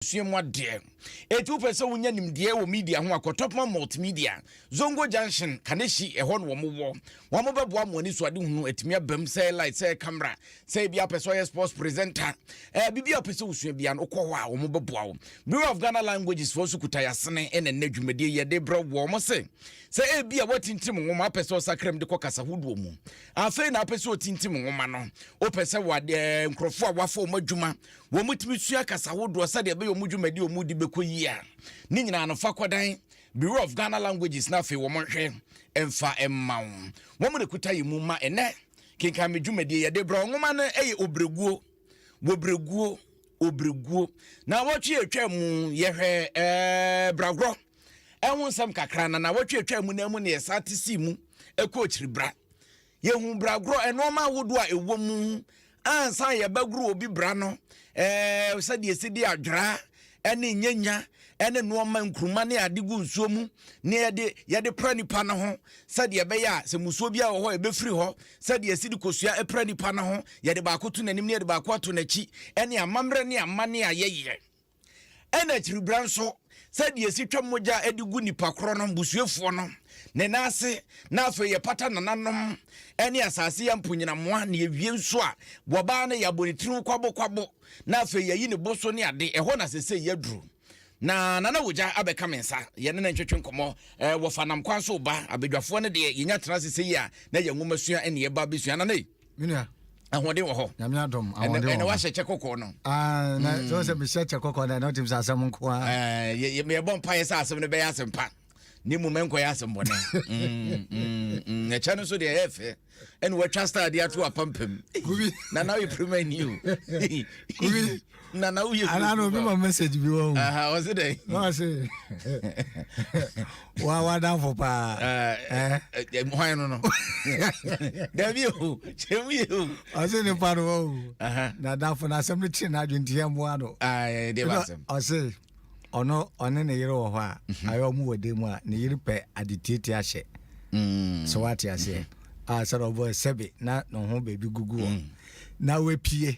sua mu adeɛ. Eti wopɛ sɛ wonya nimdeɛ wɔ media ho a, kɔ Topman Multimedia, Zongo Junction, Kaneshie, ɛhɔ na wɔn wɔ. Wɔn bɛboa mo ani so ade hunu atumi abam, sɛ ɛyɛ light, sɛ ɛyɛ camera, sɛ ebi apɛ sɛ ɔyɛ sports presenter, ɛɛ biribi a wopɛ sɛ wosua bia no wokɔ hɔ a wɔn bɛboa wo. Bureau of Ghana Languages foɔ nso kuta yasene ɛna nnɛ dwumadie yi ɛde brɛ wɔ wɔn se sɛ ebi a woatintim nwoma apɛ sɛ ɔsakra mu de kɔ kasa hodoɔ mu afei na apɛ sɛ otintim nwoma no wopɛ sɛ wɔ adeɛ nkurɔfoɔ a wafa wɔn adwuma Wɔtumi sua kasa hodoɔ sɛdeɛ ɛbɛyɛ wɔn dwumadi wɔn di bɛkɔ yie a ne nyinaa no fa kɔdan Bureau of Ghana Languages na afei wɔn nhwɛ mfa mma wo wɔn na kuta yɛ mu ma ɛnɛ kenkan me dwumadie yɛde brɛ nwoma no ɛyɛ obreguo wɔbreguo obreguo na wɔtwe atwa mu yɛhwɛ ɛɛ bragorɔ ɛho nsɛm kakra na na wɔtwe atwa mu na mu na yɛsa te si mu ɛkɔ akyiri bra Yɛhu bragorɔ nnoɔma ahodoɔ a ɛwɔ mu ansa a yɛbɛgoro obi bra no, ɛɛ sɛdeɛ ɛsi de adwera ne nyanya ne nnoɔma nkuruma ne ade gu nsuo mu ne yɛde yɛde pra nipa no ho sɛdeɛ ɛbɛyɛ a sɛ musuo bi wɔ hɔ ɛbɛfiri hɔ sɛdeɛ ɛsi de kosua pra nipa no ho yɛde baako to n'anim ne yɛde baako ato n'akyi ne amammerɛ ne amane a yɛyɛ Ɛna akyiri berɛ nso, sɛdeɛ yɛsi twa mogya de gu nipa korɔ no busuafoɔ no ne nan ase, na afei yɛpata nananom ne asase yɛ mponnyinamoa, na yɛwie nso a, wɔbaa no yɛabɔ ne tiriw kwabo kwabo, na afei yɛayi ne bo so ne ade, ɛhɔ na sesei yɛaduru. Na Nana Wogya abɛka me nsa, yɛne no ntwetwe nkɔmmɔ, wɔfa nam kwan so reba, abadwafoɔ no deɛ yɛnya tena ase sei a, na yɛn nwomasua ne yɛn ba bɛsua. Nana ei! menua ahoɔden wɔ hɔ nyame adom ahoɔden wɔ hɔ ɛna wahyɛ kyɛ kɔkɔɔ no ah, na mm. sɛ sɛ mehyɛ kyɛ kɔkɔɔ no ɛna wotim sɛ asɛm nko a yɛbɔ mpayɛ sɛ asɛm no bɛyɛ asɛm pa ne mu mɛnkɔyɛ asɛm bɔne mm, mm, ɛkyɛ no nso deɛ ɛyɛ fɛ ɛne watwa style de ato apampam na na yɛ prima ni o na na woyɛ ana na obi ma message bi wɔ ho ɔse dɛn na ɔse wa wadamfo paa hwan no no dabi o kyerɛ mu yɛ o ɔse nipa no wɔ o na damfo no asɛm no kyerɛ no adwene nti yɛmmoa no ɔse ɔno ɔne ne yere wɔ hɔ a mhm. ayɛ ɔmo wɔ dan mu a ne yere pɛ ade tietie ahyɛ mm. sɛ woate aseɛ mhm. a sɛ na ɔbɔ sɛbe na ne ho baabi gugu hɔ mm. na wapie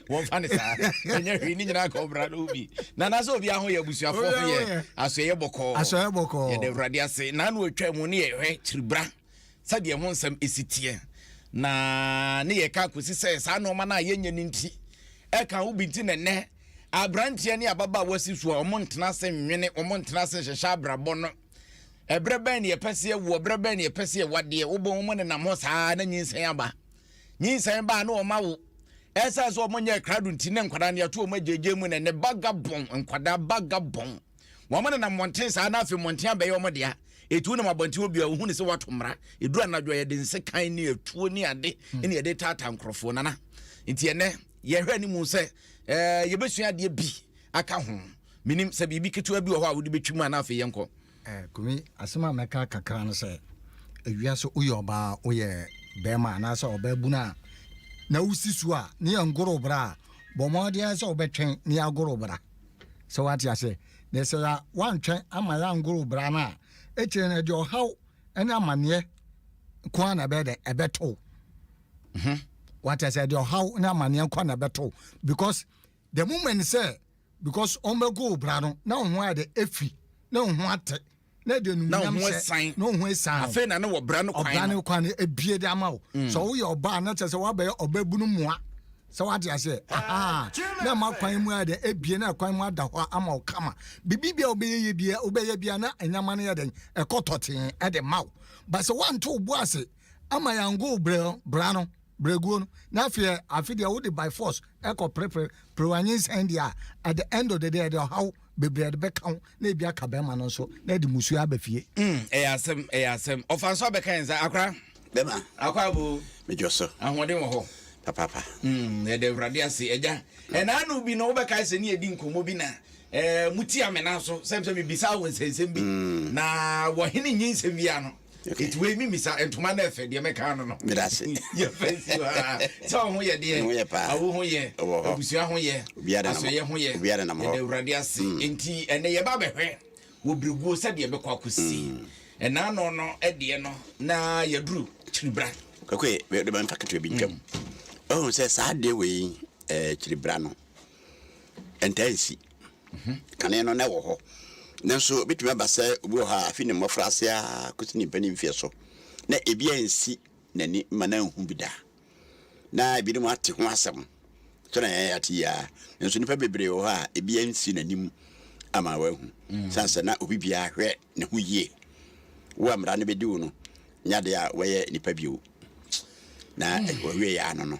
wɔmfa ne saa ɛnyɛ hwee ne nyinaa ka ɔbra no bi na anaasɛ obi aho yɛ abusuafoɔ ho yɛ asoɛyɛ bɔkɔɔ asoɛyɛ bɔkɔɔ yɛde awurade ase na ano atwa mu ne yɛhwɛ kyiribra sɛdeɛ ho nsɛm ɛsi teɛ na ne yɛ ka kɔsi sɛ saa nnoɔma no a yɛnyɛ no nti ɛka wo bi nti na nnɛ aberanteɛ ne ababaa wasi so a ɔmo ntena ase nwene ɔmo ntena ase nhyehyɛ abrabɔ no ɛberɛ bɛn ne yɛpɛ sɛ yɛwoɔ berɛ bɛn ne yɛpɛ sɛ yɛwadeɛ wobɔ ɔmo nenam hɔ saa na nyinsɛn aba Nyinsɛn baa ne wɔn awo. Ɛsan sɛ wɔn nyɛ krado nti ne nkwadaa no yɛto wɔn agyegye mu ne ne bagabɔn nkwadaa bagabɔn. Wɔn nenam mmɔnten saa na afei mmɔnten abɛyɛ wɔn dea. Etu nam abɔnten hɔ biara ohun ne sɛ wato mmara. Eduru anadwo a yɛde nsekan ne atuo ne ade hmm. ne yɛde taataa nkorɔfoɔ nana. Nti ɛnɛ yɛhwɛ anim sɛ ɛɛ eh, yɛbɛsua adeɛ bi aka ho. Menim sɛ biribi ketewa bi wɔ hɔ a wode bɛtwi mu a na afei yɛnkɔ. Eh kumi asɛm a mɛka kakra no sɛ ewia so woyɛ ɔbaa woyɛ bɛrima anaasɛ ɔbaa bunu a na wosi so a ne yɛ ngoro bra a bɔ mmɔden sɛ wobɛtwɛn ne agoro bra sɛ wate aseɛ na sɛ ya wantwɛn ama yɛ angoro bra no a ɛkyerɛ no ɛde ɔhaw ɛne amanneɛ ko a na ɛbɛyɛ dɛ ɛbɛto wate aseɛ ɛde ɔhaw ne amanneɛ ko a na ɛbɛto because the moment sɛ because wɔn bɛ go bra no na wɔn ho ayɛ dɛ efi na wɔn ho atɛ na ɛde numunyam hyɛ na wɔn ho esan afei na ne wɔ bra no kwan ɔbra no kwan ebie de ama o mm. sɛ wɔyɛ ɔbaa na kyerɛ sɛ wɔabɛyɛ ɔbɛbunu mua sɛ wate aseɛ aha na ɛma kwan mu ayɛ dɛ ebie na kwan mu ada hɔ ama wo kama biribi bia wobɛyɛ yɛ bia wobɛyɛ bia na nneɛma no yɛ dɛn ɛkɔ tɔtee ɛde ma wo ba sɛ woanto wo bo ase ama yɛangow brɛ bra no brɛguo no na afei afe deɛ wode by force ɛkɔ perepere perew anyinsɛn deɛ a at the end of the day ɛde ɔhaw bebree ɛde bɛka wo na ebi aka bɛrima no nso na ɛde musuo aba fie. Mm, ɛyɛ asɛm, ɛyɛ asɛm. Ɔfa nso abɛka yɛn nsa, akora. Bɛma. Akɔ abo. Medwo so. Ahoɔden wɔ hɔ. Papaapa. Mm, yɛde Awurade ase, agya. Ɛnaano bi no wobɛkae sɛ ne yɛdi nkɔmmɔ bi na eh, motia me nan so sɛm sɛ mebisa wo nsɛnsɛm bi mm. na wɔhene nyi nsɛm biara no Okay. Nti wei mi misa ntoma na ɛfɛ deɛ mɛka ano no. Medase. Yɛ fɛ si hɔ aa. Sɛ ɔho yɛ deɛ. Ho yɛ paa. Awo ho yɛ. Ɛwɔ hɔ. Abusua ho yɛ. Obiara nam hɔ. Asɔyɛ ho yɛ. Obiara nam hɔ. Yɛda awurade ase. Mm. Nti ɛnɛ yɛba abɛhwɛ wɔ biriguo sɛdeɛ ɛbɛkɔ akɔsi. Mm. Ɛnaa no no ɛdeɛ no na yɛduru kyiribra. Kakwe de ma mfa ketewa bi ntwam. Mm. Ɔhu sɛ saa adeɛ wei ɛɛ eh, kyiribra no ɛntaa nsi. Kane no, na ɛwɔ hɔ. Nanso ebetumi aba sɛ obi wɔ hɔ a afi ne mmofraase ara kosi ne mpanyin mfe so na ebi ansi n'ani ma na anhu bi da. Na ebinom ate ho asɛm sɛnea yɛn ate yi ara, nanso nnipa bebree wɔ hɔ a ebi ansi n'anim ama wahu. Mm. San sɛ na obi biara hwɛ ne ho yie. Wo a mmara no bedi wo no, nyɛ ade a wɔyɛ nipa bio. Na mm. wɔwie yɛ ano no.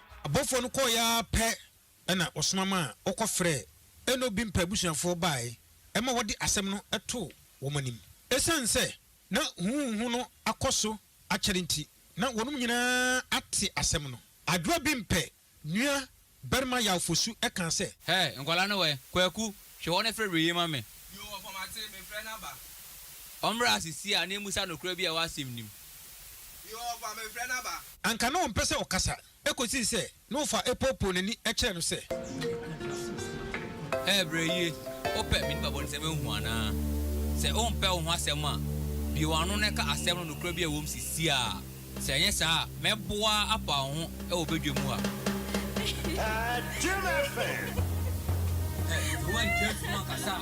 Abɔfoɔ no kɔeɛ ara pɛ na wɔsoma maa wɔkɔfrɛɛ ɛnna obi mpɛ abusuafoɔ baeɛ ma wɔde asɛm no too wɔn anim. Ɛsiane sɛ na huhuuhu no akɔ so akyɛre nti, na wɔnom nyinaa ate asɛm no. Adwoa bi mpɛ nua barima Yaw-Fosu kaa sɛ. Hɛ! Nkwadaa no wɔ he? Kwaku, hwɛ hɔ na frɛ Were yi ma me. Yoo, ɔfa mate, mefrɛ no aba. Ɔmmra ase sie ananmu sɛ anokorɛ bi a ɛwɔ asɛm no mu. Yoo ɔfa me mfrɛ no aba. Anka na ɔmpɛ sɛ ɔkasa kɔsii sɛ na ɔfa poopoo n'ani kyerɛɛ no sɛ. Ɛɛ brɛ yie, wopɛ me nipa bɔne sɛ menhu anaa? Sɛ wompɛ wo ho asɛm a, bue w'ano na ka asɛm no nokorɛ bi a ɛwom sisiaa, sɛ anyɛ saa a mɛbɔ wo ara apa wo ho wɔ badwa mu a. Ɛɛ, sɛ woantwa funu ankasa a.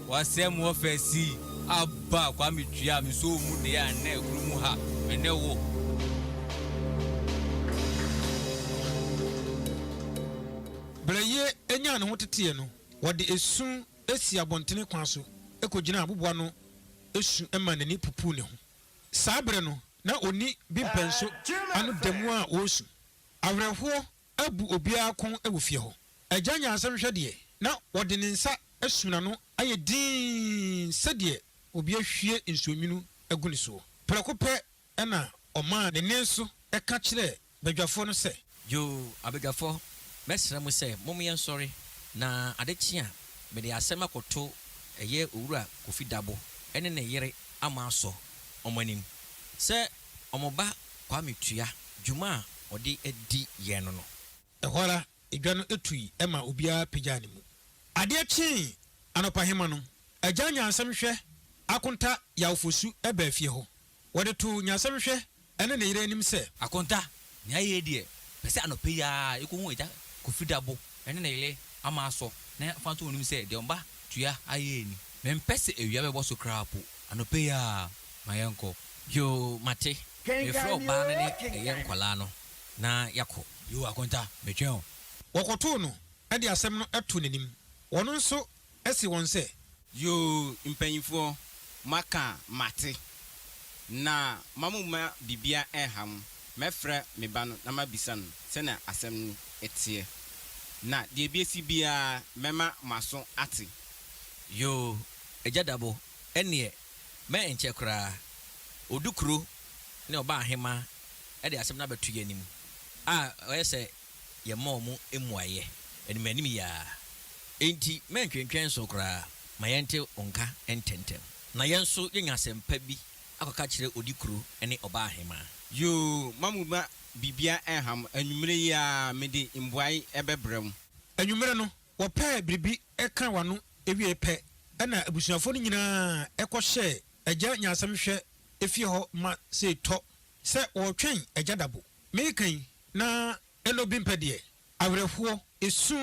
W'asɛm wɔ fɛ sii abba kwame twia me soo mu deɛ a nnɛ kuro mu ha me ne wo. Berɛ yei nyaa ne ho teteɛ no, wɔde esu sii abɔntene kwan so kɔgyinaa aboboa no su maa n'ani pupuu ne ho. Saa berɛ no, na ɔnni bi mpɛnso ano da mu a ɔresu. Awerɛhoɔ abu obiara kɔn wɔ fie hɔ. Agya Nyansam hwɛ deɛ, na ɔde ne nsa asu n'ano ayɛ dinn sɛdeɛ obi ahwie nsuonwunu agu ne soɔ. Prɛko pɛ na ɔmaa ne nne so ka kyerɛɛ badwafoɔ no sɛ. Yoo, abadwafoɔ, mɛsrɛ mo sɛ mom yɛnsɔre, na ade kye a, mede asɛm akɔto ɛyɛ Owura Kofi Dabo ne ne yere ama asɔ wɔn anim sɛ wɔn ba Kwame tua dwuma a ɔde adi yɛn no no. Ɛhɔ ara, dwa no tui ma obiara pagyaa ne mu. Adeɛ kyee anɔpahema no, Agya Nyansem Hwɛ Akonta Yawfosu baa fie hɔ. Wɔde too Nyansem Hwɛ ne ne yere anim sɛ. Akonta, nea yei deɛ, pɛ sɛ anɔpa yi ara yɛkɔhu Agya Kofi Dabo ne ne yere ama asɔ na yɛmfa nto wɔn anim sɛ deɛ wɔn ba tua ayɛ ni. Mempɛ sɛ awia bɛbɔ so koraa mpo, anɔpa yi ara ma yɛnkɔ. Yoo, mate. Mefrɛ ɔbaa no ne ɛyɛ nkwadaa no na yɛakɔ. Yoo, Akonta, metwɛn wo. Wɔkɔtoo no de asɛm no too n'anim. Wɔn nso see wɔn sɛ. Yoo, mpanimfoɔ, moaka a, mate. Na ma momma biribiara nnha mo. Mɛfrɛ me ba no na mabisa no sɛdeɛ asɛm no teɛ. Na deɛ ɛbɛsi biara, mɛma mo aso ate. Yoo, Agya Dabo, ɛnneɛ Mɛ nkyɛ koraa, Odukuro ne Ɔbaahemaa de asɛm no abɛto yɛn anim a ɔyɛ sɛ yɛmma wɔn mmuaeɛ animanim yi ara. Enti mɛ ntwentwɛn so koraa ma yɛnte wo nka ntɛmntɛm na yɛn nso yɛnya asɛm pa bi akɔka akyerɛ Odukuro ne Ɔbaahemaa. Yoo, mma mo mma biribiara nnha mo. Anwumerɛ yi ara mede mmuae bɛbrɛ mo. Anwumerɛ no, Wɔpɛɛ biribi kaa wɔn ano wiei pɛ na abusuafo no nyinaa kɔhyɛɛ Agya Nyansam Hwɛ fie hɔ ma sɛ ɛtɔ sɛ wɔretwɛn Agya Dabo. Mereka yi, na ɛna obi mpɛ deɛ. Awerɛhoɔ, esu,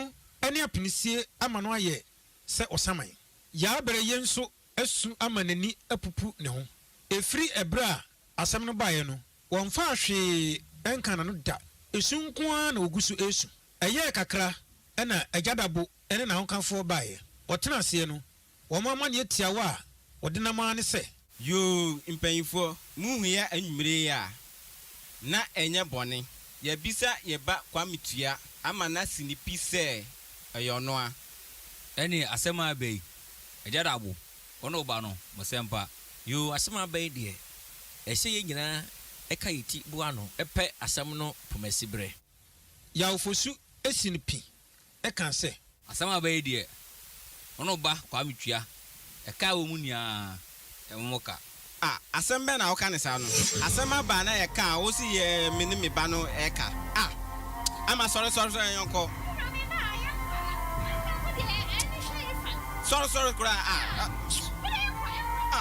ne apinisie ama no ayɛ sɛ ɔsaman. Yaa Berɛyie nso asu ama n'ani apupu ne ho. Ɛfiri ɛberɛ a asɛm no baeɛ no, wɔmfaa hwee nkaa n'ano da. Esu nko ara na ɔgu so resu. Ɛyɛɛ kakra na Agya Dabo ne n'ahokafoɔ baeɛ. Wɔtenaa aseɛ no, wɔn amanneɛ tiawa a wɔdenam ara ne sɛ. Yoo, mpanyinfoɔ, mohu yɛ anwumerɛ yi a? Na ɛnyɛ bɔne. Yɛabisa yɛn ba Kwame Tua ama no asi ne pi sɛ ɛyɛ ɔno a. Ɛnneɛ asɛm a aba yi, Agya Dabo, wo ne wo ba no, mo sɛmpa. Yoo, asɛm a aba yi deɛ, ɛsɛ yɛn nyinaa ka yɛn ti boa ano pɛ asɛm no pomasiberɛ. Yaw-Fosu Esin pi kã sɛ. Asɛm a aba yi deɛ, wo ne wo ba Kwame tua ɛka a ɛwɔ mu nyinaa mu mo ka. A, asɛm bɛn na woka no saa no? Asɛm aba a na ɛka a wose yɛ me ne me ba no ɛka. A, Ama sɔre sɔre sɔre yɔnkɔ. Sɔre sɔre koraa a. A.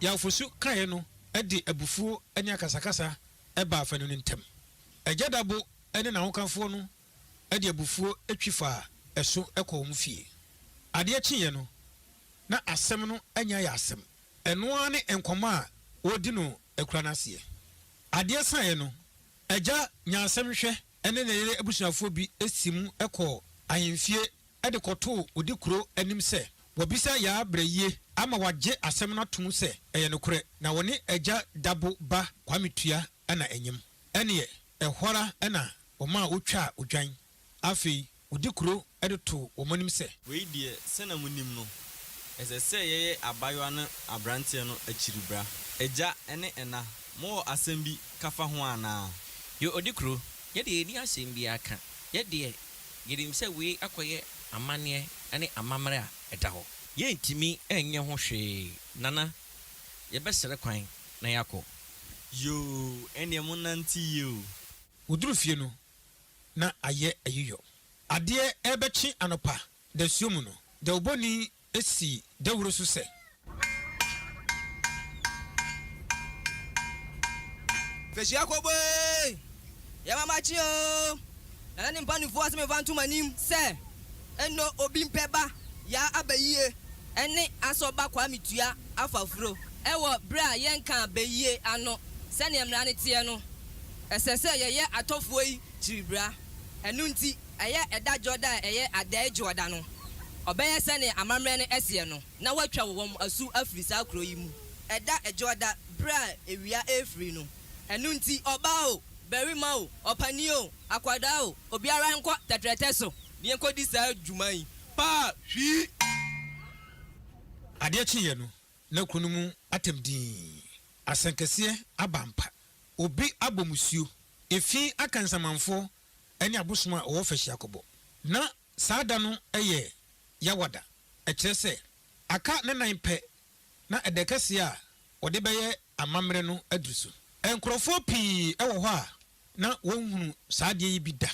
Yawfosu kaeɛ no de abufuo ne akasakasa baa afanu no ntam. Agya Dabo ne n'ahokafoɔ no de abufuo twi faa ɛso kɔɔ wɔn fie. Adeɛ kyeeɛ no, na asɛm no anya ayɛ asɛm. Ɛno ara ne nkɔmmɔ a wɔredi no akura no aseɛ. Adeɛ saeɛ no, agya nyaa asɛm hwɛ. ne ne yere abusuafoɔ bi sii mu kɔɔ ahemfie de kɔtoo odi kuro anim sɛ wɔbisa Yaa Brɛyie ama wagye asɛm no atom sɛ ɛyɛ nokorɛ na wɔne Agya Dabo ba Kwame Tua na anyem. Ɛnneɛ, ɛhɔ ara na wɔmaa wɔtwaa odwan. Afei, Wodi kuro de to wɔn anim sɛ. Wei deɛ, sɛdeɛ monim no, ɛsɛ sɛ yɛyɛ abaayewa ne aberanteɛ no akyiribra. Agya ne ɛna, mowɔ asɛm bi ka fa ho anaa? Yɛ odi kuro, yɛ deɛ yɛnni asɛm biara ka. Yɛ deɛ, yɛnim sɛ wei akɔyɛ amanneɛ ne amammerɛ a ɛda hɔ. Yɛntumi nyɛ ho hwee, Nana. Yɛbɛsrɛ kwan na yɛakɔ. Yoo, ɛnneɛ monnante yie o. Wɔduru fie no, na ayɛ ayiyɔ. Adeɛ rebɛkye anɔpa dasuo mu no, dawubɔni sii dawuro so sɛ. Mfehyia kɔbɔ ee, yɛma makye oo. Nana ne mpanimfoɔ asɛm mfa nto m'anim sɛ. Eno obi mpɛ ba yaa aba yie. Ɛne asɔ ba kwame tua afafuro. Wɔ berɛ a yɛnkaa bayie ano sɛdeɛ mmara no teɛ no, ɛsɛ sɛ yɛyɛ atɔfoɔ yi kyiribra. Ɛno nti, ɛyɛ ɛda Dwoɔda a ɛyɛ Adɛɛ Dwoɔda no, ɔbɛyɛ sɛdeɛ amammerɛ no seɛ no na wɔatwa wɔn asu afiri saa kuro yi mu. Ɛda Dwoɔda berɛ a awia refiri no. Ɛno nti, ɔbaa o, barima o, ɔpanin o, akwadaa o, obiara nkɔ tɛtrɛtɛ so. Deɛ kɔdi saa dwuma yi paa hwii. Adeɛ kyeeɛ no, na kuro no mu atɛm dinn. Asɛnkɛseɛ aba ampa. Obi abɔ musuo. Efi aka nsamanfoɔ ne abosom a wɔwɔ fahyi akɔbɔ. Ná saa da no yɛ Yawada, ɛkyerɛ sɛ, aka nna nnan pɛ na ɛda kɛseɛ a wɔde bɛyɛ amammerɛ no aduru so. Nkurɔfoɔ pii wɔ hɔ a na wɔnhunu saa adeɛ yi bi da.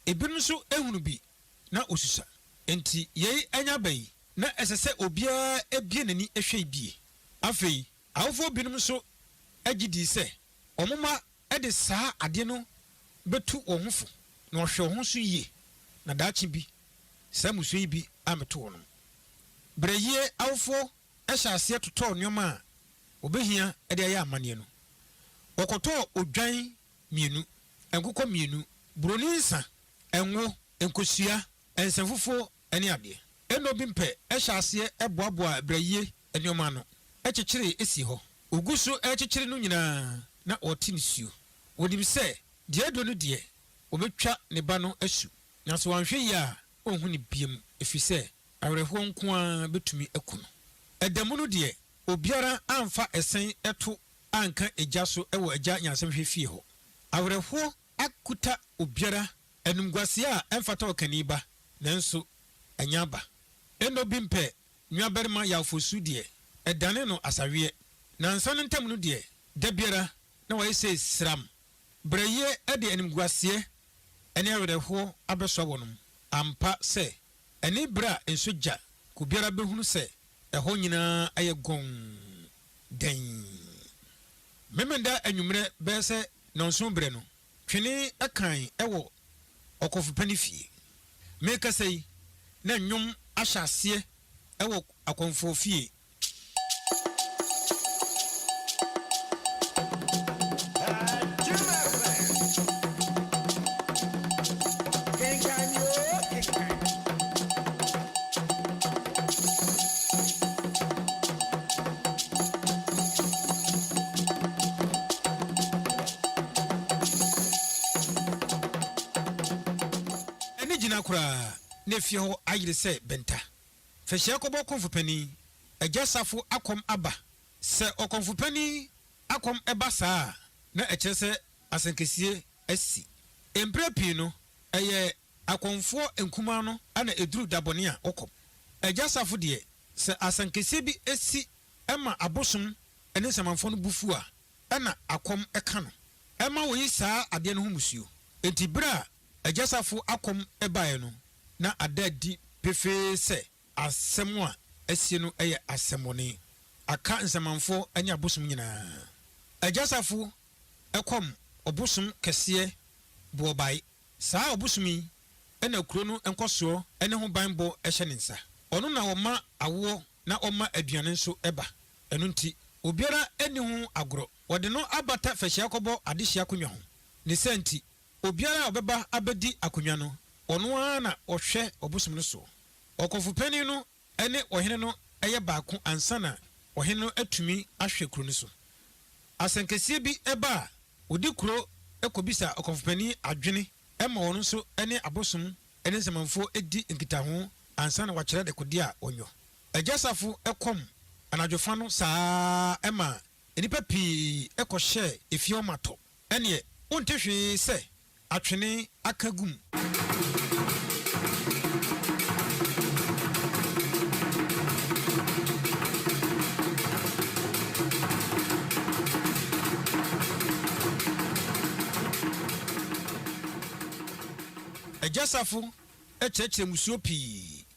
Ebinom nso hunu bi na wosusa. Enti yei anya aba yi, na ɛsɛ sɛ obiara bue n'ani hwɛ yi bi. Afei, awofoɔ binom nso gye dii sɛ wɔn mma de saa adeɛ no bɛtu wɔn ho fo na wɔahwɛ wɔn ho so yie na daakye bi saa mmusua yi bi ammɛto wɔnom. Berɛyie awofoɔ hyɛɛ aseɛ totɔɔ nneɛma a wɔbɛhia de ayɛ amanneɛ no. Wɔkɔtɔɔ odwan mmienu, nkokɔ mmienu, buroni nsa, ngo, nkosua, nsa fufuo ne adeɛ. Ɛnna obi mpɛ hyɛ aseɛ boaboa brayie nneɛma ano kyekyere si hɔ. Wɔgu so rekyekyere no nyinaa na wɔte nisuo. Wɔnim sɛ deɛ aduro no deɛ, wɔbɛtwa ne ba no asu, na sɛ wanhwɛ yie a ɔrenhu no bio ɛfiri sɛ awerɛhoɔ nko ara bɛtumi aku no. Ɛda mu no deɛ, obiara amfa ɛsɛn to anka egya so wɔ Agya Nyansahwɛ fie hɔ. Awerɛhoɔ akuta obiara, animguaseɛ a ɛmfata ɔkani ba, nanso ɛnyɛ aba. Eno bi mpɛ nuabarima yawfoɔ su deɛ, ɛdane no asaweɛ. Nansa no ntam no deɛ, da biara na wayɛ sɛ siram. Brɛyie de animguaseɛ ne awerɛhoɔ abɛsoa wɔnom. Ampa sɛ, ɛne berɛ a nso gya, obiara bɛhunu sɛ ɛhɔ nyinaa ayɛ gɔnn. dɛn? Memeneda anwummerɛ bɛyɛ sɛ nnɔnson berɛ no, twene kan wɔ ɔkɔmfopa no fie. Merekasa yi, na nnwom ahyɛ aseɛ wɔ akɔmfoɔ fie. Ɛnne gyina koraa na efie hɔ ayere sɛ bɛnta. Fahyia kɔbɔ kɔmfo panin. Agya Safo akɔm aba. Sɛ ɔkɔmfo panin akɔm ba saa a, na ɛkyerɛ sɛ asɛnkasie asi. Mprɛ pii no, ɛyɛ Akɔmfoɔ nkumaa no na ɛduru da bɔne a wɔkɔ. Agya Safo deɛ, sɛ asankesee bi si ma abosom ne nsamanfoɔ no bo fu a, ɛna akɔm ka no. Ɛma wɔyi saa adeɛ no ho mmusuo. Enti berɛ a Agya Safo akɔm baeɛ no, na ada adi pefee sɛ asɛm a asie no yɛ asɛmmɔne aka nsamanfoɔ ne abosom nyinaa. Agya Safo kɔm ɔbosom kɛseɛ Boɔbae Saa ɔbosom yi na kuro no nkɔsoɔ ne ho banbɔ hyɛ ne nsa. Ɔno na ɔma awoɔ na ɔma aduane nso ba. Ɛno nti, obiara nni ho agorɔ. Wɔde no abata fɛhyia kɔbɔ adehye akonnwa ho. Ne saa nti, obiara a ɔbɛba abɛdi akonnwa no, ɔno ara na ɔhwɛ ɔbosom no soɔ. Ɔkɔmfo panin no ɛne ɔhene no yɛ baako ansa na ɔhene no atumi ahwɛ kuro no so. Asɛnkɛseɛ bi ba a, wɔdi kuro kɔbisa ɔkɔmfopanin adwene ma ɔno nso ne abosom ne nsamanfoɔ di nkitaho ansa na wakyerɛ dekodeɛ a ɔnyɔ. Agya Safo kɔm anadwofa no saa ara maa nnipa pii kɔhyɛɛ efie hɔ ma tɔ. Ɛnneɛ wonte hwee sɛ Atwene aka gu mu. Agyasafo kyerɛkyerɛ mmusuo pii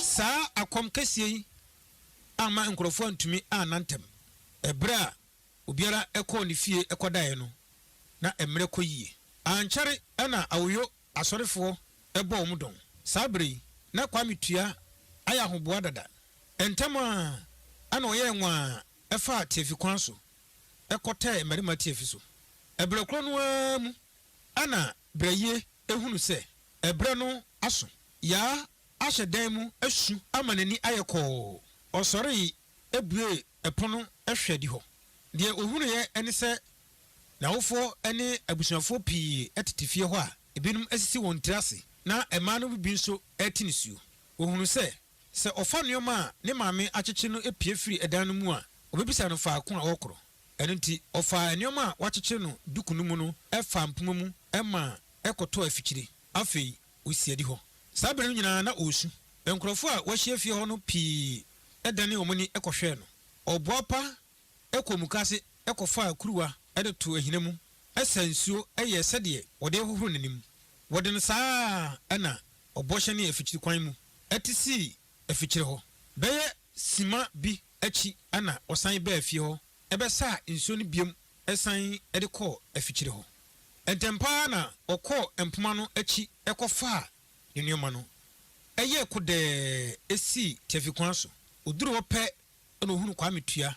Saa akɔm kɛseɛ yi amma nkurɔfoɔ antumi anna ntɛm. Ɛberɛ a obiara kɔɔ ne fie kɔdaeɛ no, na mmerɛ kɔ yie. Ankyɛre na Awoyo asɔrefoɔ bɔɔ wɔn dɔn. Saa berɛ yi, na Kwame Tua ayɛ ahoboa dada. Ntɛm ara na ɔyɛɛ nwaa faa tiafi kwan so kɔtɛɛ mmarima tiafi so. Berɛ korɔ no ara mu na Brɛ yie hunu sɛ ɛberɛ no aso. Yaa ahyɛ dan mu asu ama n'ani ayɛ kɔɔ. Ɔsɔree buee pono hwɛ adihɔ. Deɛ ɔhunuiɛ ne sɛ n'awofoɔ ne abusuafoɔ pii tete fie hɔ a ebinom asisi wɔn tiri ase na mmaa no mu bi nso rete nisuo. Ɔhunuu sɛ, sɛ ɔfa nneɛma a ne maame akyekye no pue firi dan no mu a, ɔbɛbisa no faako a ɔrekorɔ. Ɛno nti, ɔfaa nneɛma a wɔakyekyere no duku no mu no faa mpoma mu ma ɛkɔtɔɔ afikyiri. Afei osii adi hɔ. Saa bere no nyinaa na ɔresu. Nkurɔfo a wɔahyia fie hɔ no pii danee wɔn ani kɔhwɛɛ no. Ɔboapa kɔɔ mukaase kɔfaa kuruwa de too ahina mu saa nsuo yɛɛ sɛdeɛ wɔde rehohoro n'anim. Wɔde no saa ara na ɔbɔ hyɛnee afikyiri kwan mu te sii afikyiri hɔ. Bɛyɛ simma bi akyi na ɔsan baa fie hɔ bɛsaa nsuo no biom san de kɔɔ afikyiri hɔ. Ntɛm pa ara na ɔkɔɔ mpoma no akyi kɔfaa ne nneɛma no. Ɛyɛɛ kodɛɛ sii tiafi kwan so. Ɔduruu hɔ pɛ na ɔhunuu Kwame Tua.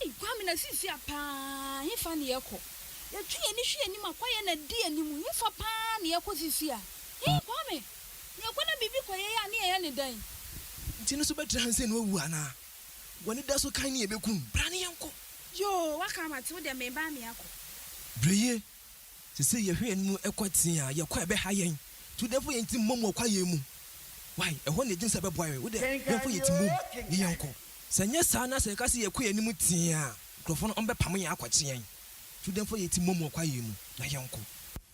Ei Kwame na sisia paa hefa na yɛkɔ? Yɛtwe yɛni hwɛ yɛnim a kwaeɛ na adi yɛnim hefa paa na yɛkɔ sisia? Ei Kwame na yɛkɔ na biribi kɔ yɛyɛ a ne yɛyɛ ne dɛn? Nti no so bɛtra ha nsɛ no awu anaa? Wani da so kan ne yɛbɛku no bra ne yɛnkɔ. Yoo waka mate wo deɛ meba meakɔ. Brɛyie Sɛ sɛ yɛhwɛ yɛn anim kɔ tee a, yɛn kwan bɛha yɛn. Nti wo dɛ mfa yɛn ti mmom wɔ kwae yɛn mu. Wai, ɛhɔ na yɛgyina sɛ ɛbɛboa yɛn. Wo dɛ hwɛ mfa yɛn ti mmom ne yɛn kɔ. Sɛ ɛnyɛ saa na sɛ yɛka sɛ yɛkɔ yɛn anim tee a, nkurɔfoɔ no bɛpamo yɛn akɔkye yɛn. Nti wo dɛ mfa yɛn ti mmom wɔ kwae yɛn mu na yɛn kɔ.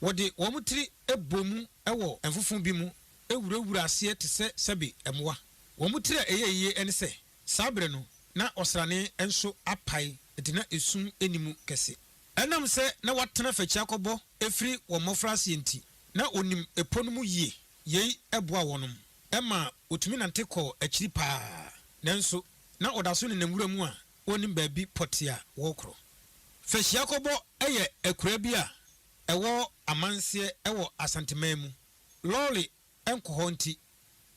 Wɔde wɔn tiri bɔ mu wɔ mfofo bi mu wurawura aseɛ te sɛ sɛbe mmoa. Wɔn tiri a ɛyɛ yie ne sɛ, saa berɛ no na ɔsrane nso apae nti na esum nni mu kɛse. Ɛnam sɛ na watena afakyia kɔbɔ firi wɔn mmɔfraaseɛ nti, na ɔnim ɛpɔ no mu yie. Yei boaa wɔnom maa wɔtumi nante kɔɔ akyiri pa ara. Nanso na ɔda so nenam wura mu a ɔnnim baabi pɔtee a wɔrekorɔ. Fakyia-kɔbɔ yɛ akuraa bi a ɛwɔ Amanseɛ wɔ Asanteman mu. Lɔɔre nkɔ hɔ nti,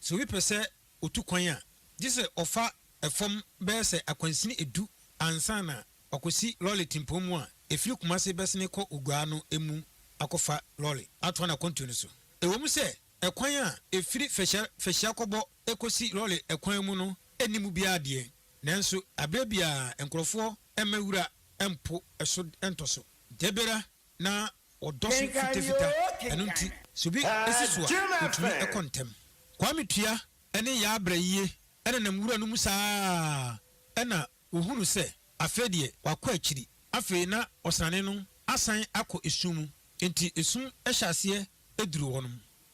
sɛ obi pɛ sɛ otu kwan a, gye sɛ ɔfa fam bɛyɛ sɛ akwansini edu ansa na wakosi lɔre tempɔn mu a efiri Kumasi bɛsene kɔ Oguaa no mu akɔfa lɔre atoa n'akwantuo no so. Ɛwom sɛ kwan a efiri Fɛhyia Fɛhyia kɔbɔ kosi lɔre kwan mu no nni mu biara deɛ, nanso aberɛ biara nkorɔfoɔ mma wura mpo so ntɔ so. Dabiara na Wɔdɔ so fitafita, ɛno nti sɛ obi si so a, otumi kɔ ntɛm. Kwame Tua ne Yaa Brayie nenam nwura no mu saa ara na wɔhunu sɛ afei deɛ wakɔ akyiri. Afei na ɔsrane no asan akɔ esum mu, enti esum hyɛ aseɛ duru wɔnom.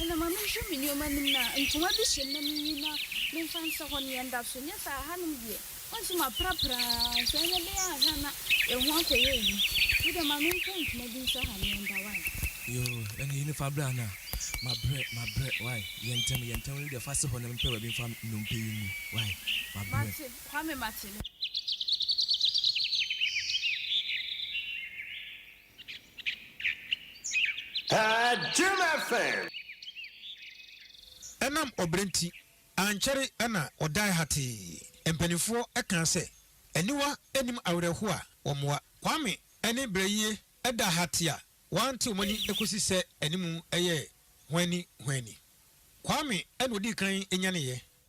Ɛnna ma menhwɛ me nneɛma anim na ntoma bi hyem na minyi na memfa nsɛ hɔ nea ɛda so, nyɛ saa a, hanom deɛ, wonsi mu aprapra ara nso, ɛnyɛ dɛn ara a hwɛ a na yɛn ho akɔyɛ ayi. Wo deɛ, ma mentwa ntoma bi nsɛ ha nea ɛda, wai. Yoo, ɛnna yi ne fa bra no a, mabrɛ, mabrɛ, wai. Yɛ ntɛm, yɛ ntɛm, wo deɛ, fa si hɔ na mempɛ baabi mfa nnompe yi ngu, wai, mabrɛ. Mate, Kwame, mate, mate. Ɛnam ɔbrɛ nti, ankyɛre na ɔdae hatee. Mpanimfoɔ kaa sɛ, Aniwa nnim awerɛhoɔ a wɔmmoa. Kwame ne Brɛyie da hatee a wɔante wɔn ani kɔsi sɛ anim yɛɛ hwanni hwanni. Kwame na ɔdii kan nyaneeɛ.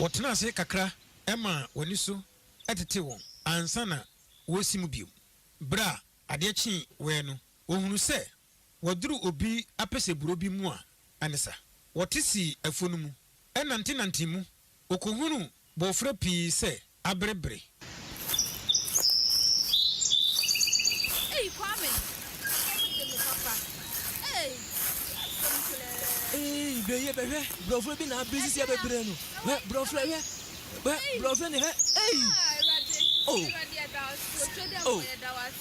Wɔtena ase kakra maa wɔn ani so tetee wɔn ansa na wɔresi mu bio. Bere a adeɛ kyee wɛɛ no, wɔhunuu sɛ wɔaduru obi apɛsɛburo bi mu a anisa. Wɔte sii afuo no mu, nantenantee mu. Wɔkɔhunuu Bɔfrɛ pii sɛ abere bere. Ei Kwame ɔmo de me papa ei asɛm koraa. Ei beye bɛ hwɛ brɔfrɛ bi na abere sisi abɛ bere no hwɛ brɔfrɛ hwɛ hwɛ brɔfrɛ ne hwɛ ei oh oh.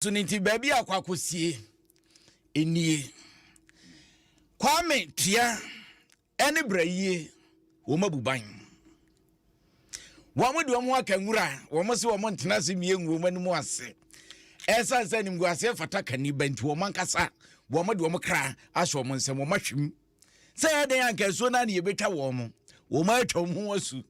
So ne nti baabi a akɔ akɔsie nie. Kwame Tua ne Brayie wɔn abu ban. Wɔn de wɔn aka nwura wɔn se wɔn ntena ase mmie ngu wɔn anim ase. Ɛsan sɛ animguaseɛ fata kaniba nti wɔn ankasa wɔn de wɔn kra ahyɛ wɔn nsam wɔn ahwim. sɛ yɛ dɛn anka asuo no a ne yɛbɛtwa wɔn mo wɔn atwa wɔn ho asu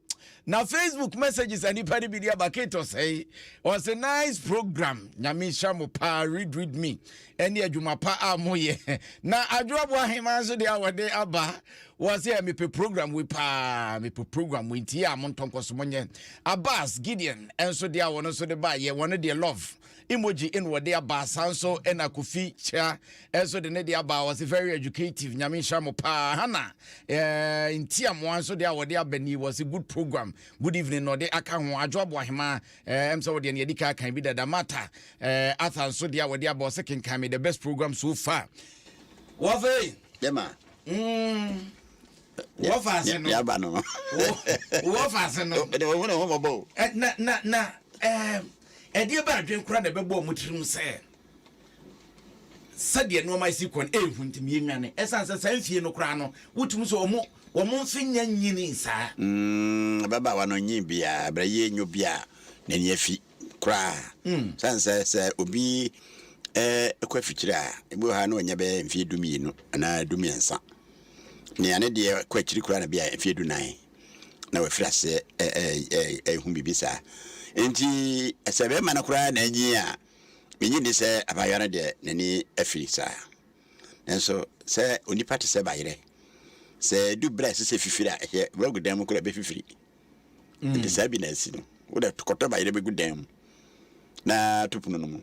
na facebook messages a nipa no bi de aba kate ɔsɛe ɔsɛ nice program nyame nhyira mo paa read read me ɛne adwuma pa a moyɛ na adwoaboa hema nso deɛ a wɔde aba wɔ sɛ mepɛ program wei paa mepɛ program wei nti a mo ntɔnkɔ so monyɛ abbas gideon nso deɛ a wɔn nso de ba yɛ wɔn deɛ love Emoji na wɔde aba saa nso na Kofi Kyia nso de ne de aba wɔse very educative nyame nhyira mo paa Hana eh, Ntiamoa nso de a wɔde aba ni wɔse good program good evening na ɔde aka ho Adwo Aboahema eh, ɛm sɛ wɔde ne yɛde ka kan bi dada Mata eh, Arthur nso de a wɔde aba wɔse kenkan me the best program so far wɔfei dɛma mm. wɔfa ase no yaba no wɔfa ase no na na na Ɛdeɛn bɛn adwene koraa na ɛbɛbɔɔ mo tirim sɛ sɛdeɛ nneɛma asi kɔ no ɛnhu nti meyɛnwane? Ɛsiane sɛ saa mfie no koraa no, wotumi sɛ wɔn wɔn mfe nnya nnyinii saa. Mm, ababaawa no nnyee biara, ɛberɛ yɛ nyɛ obi a n'ani afi koraa. Ɛsiane sɛ sɛ obi kɔ afikyire a, ebi wɔ hɔ a na wanya bɛyɛ mfeɛ dumienu anaa dumiɛnsa. Nea ne deɛ kɔ akyiri koraa na bi a mfeɛ dunan. na wafiri aseɛ rehu biribi saa. Enti sɛ bɛrima no koraa na anyin a, mennye nni sɛ abaayewa no deɛ n'ani afiri saa. Nanso sɛ onipa te sɛ bayerɛ, sɛ ɛdu berɛ a ɛsɛ sɛ fifiri a, ɛhyɛ wagu dan mu koraa bɛfifiri. Nti saa bi na asi no. Wode kɔtɔ bayerɛ bɛgu dan mu na to pono no mu.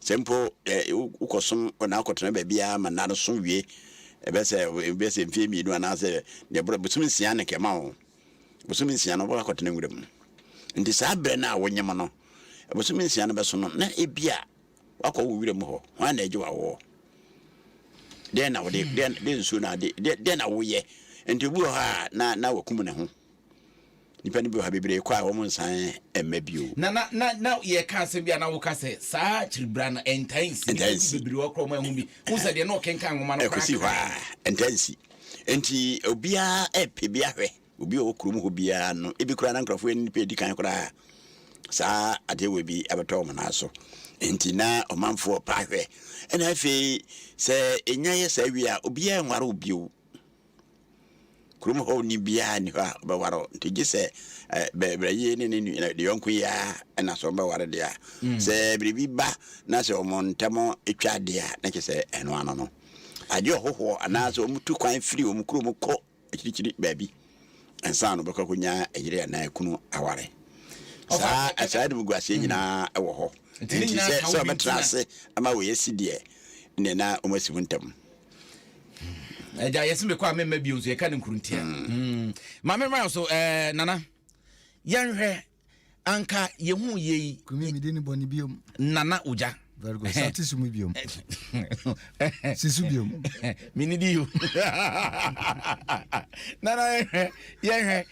Sɛ mpo wokɔsom kɔ na akɔtena baabi ara ma nna no so wie, ɛbɛyɛ sɛ ɛbɛyɛ sɛ mfeɛ mmienu anaasɛ deɛ ɛboro bosome nsia na kɛma wo. Bosome nsia no wobɛkɔtena nwura mu. Nti saa berɛ no a wonyem no, bosome nsia no bɛso no, na ebia wakɔ wo wura mu hɔ. Hwan na agye wo awoɔ? Dɛn na wode, dɛn, dɛn nsuo na ade, dɛn na woyɛ? Nti obi wɔ hɔ a na na wakum ne ho. Nnipa no bi wɔ ha, bebree kɔ a wɔn nsan mma bio. Na na na na yɛka asɛm bi a na woka sɛ saa akyiribra no ɛntaa nsi. Ntaa nsi. Nnipa bebree wɔ koraa wɔn ahu bi. Wohu sɛ deɛ na ɔkenkan nwoma no koraa. Ɛkɔsi hɔ a ɛntaa nsi. Nti obiara ɛpɛ bi ahwɛ. Obi a ɔwɔ kurom hɔ biara no, ebi koraa na nkurɔfoɔ yɛ ne nipa edi kan koraa a saa adeɛ wei bi abɛtɔ wɔn nan so. Nti na ɔmanfoɔ ɔpɛ ahwɛ. Ɛna afei sɛ enya yɛ saa wie a obiara nware wo bio. Kurom hɔni biara nni hɔ a ɔbɛware wo. Nti gye sɛ eh, bɛbrɛyie ne ne nua de yɔnko yi ara ɛna sɛ ɔbɛware deɛ a. Mm. Sɛ biribi ba na sɛ wɔn ntɛm twa adeɛ a, na kyerɛ sɛ ɛno ano no. Agye ɔhohoɔ anaasɛ wɔn tu kwan firi wɔn kurom kɔ akyirikyiri baabi ansa na ɔbɛkɔ akɔnya yere anaa ekunu aware. Saa saa de mu gu aseɛ nyinaa ɛwɔ hɔ. Nti sɛ sɛ ɔbɛtena ase ama wɔyɛ si deɛ, ne na wɔn asi ho ntɛm. ɛgya yɛse mekɔ a memma bio nso yɛka no nkuruntia hmm. hmm. ma memmra so eh, nana yɛnhwɛ anka yɛhu yei nana ogya very good sati sumu biom sisu biom mini di yo nana yɛhwɛ yɛhwɛ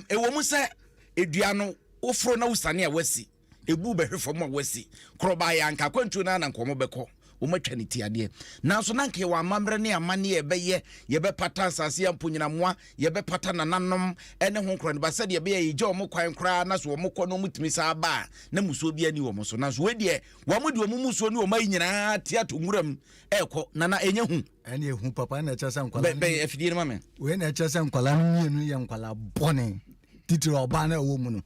ɛwɔ mu sɛ edua no woforo na wosane a wasi Ebu bɛhwe fam a wɔasi. Korɔ baeɛ a, anka akwantuo no ara na anka wɔbɛkɔ. Wɔatwa ne ti adeɛ. Nanso na anka yɛwɔ amammerɛ ne amanneɛ a yɛbɛyɛ. Yɛbɛpata nsase a mponnyina mmoa, yɛbɛpata nananom ne ho nkoraniba sɛdeɛ ɛbɛyɛ a yɛgya wɔn kwan koraa na sɛ wɔkɔ na wɔtumi san ba a, na mmusuo biara nni wɔn so. Nanso wei deɛ, wɔde wɔn mmusuo ne wɔn ayi nyinaa te ato nwuram rekɔ. Nana, ɛnyɛ hu? Ɛne ɛhu papa, ɛna ɛkyerɛ sɛ nkwadaa no... Bɛn afidie no ma me. Wei na ɛkyerɛ sɛ nkwadaa no mmienu yɛ nkwadaa bɔne. titiri ɔbaa no ɛwɔ mu no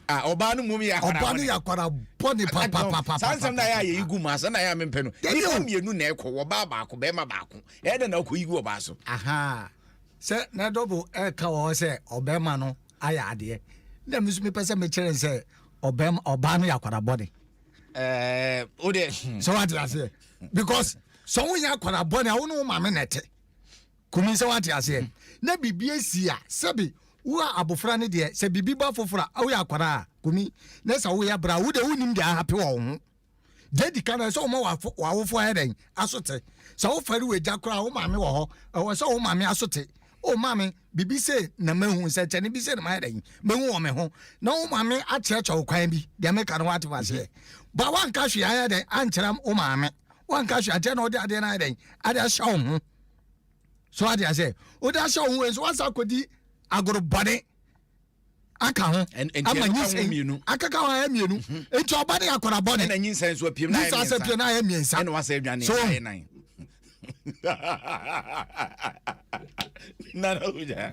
ah, ɔbaa no mmom yɛ akwara ɔbaa no yɛ akwara bɔne papapapa saa nsɛm na yɛ a yɛyi gu mu asɛ na yɛ a mempɛ no nipa mmienu na ɛkɔ wɔ baa baako bɛrima baako ɛyɛ dɛ na ɔkɔ yi gu ɔbaa so aha sɛ na dɔbo ɛka wɔ hɔ sɛ ɔbɛrima no ayɛ adeɛ na mi nso mepɛ sɛ mekyerɛ n sɛ ɔbɛrima ɔbaa no yɛ akwara bɔne ɛɛ o de sɛ wate aseɛ because sɛ woyɛ akwara bɔne a wo ne wo maame na ɛte Kumi sɛ wate aseɛ na biribi asi a sɛbi wo a abofra no deɛ sɛ biribi ba foforɔ a woyɛ akwadaa a kumi na sɛ woyɛ bra a wo deɛ wonim deɛ ahape wɔ wo ho deɛ adi ka no ɛsɛ woma w'awofoɔ ayɛ dɛn asote sɛ wofare w'agya koraa wo maame wɔ hɔ ɛwɔ sɛ wo maame asote o maame biribi sei na mahu nsɛnkyɛnne bi sei na mayɛ dɛn mahu wɔ me ho na wo maame akyerɛkyerɛ wo kwan bi deɛ meka no woate maseɛ ba woanka hwee ayɛ dɛn ankyerɛ wo maame woanka hwee ankyerɛ na ɔde adeɛ no ayɛ dɛn ade ahyɛ wo ho so ade ase wode ahyɛ wo ho wei nso woasa akɔdi agoro bɔne aka ho ama nyinsɛn akaka ho ayɛ mmienu mhm. nti ɔba ne akɔra bɔne na nyinsɛn so apiem na ayɛ mmiɛnsa apiem na ayɛ mmiɛnsa ɛna wasɛ adwane so ayɛ nan nana oja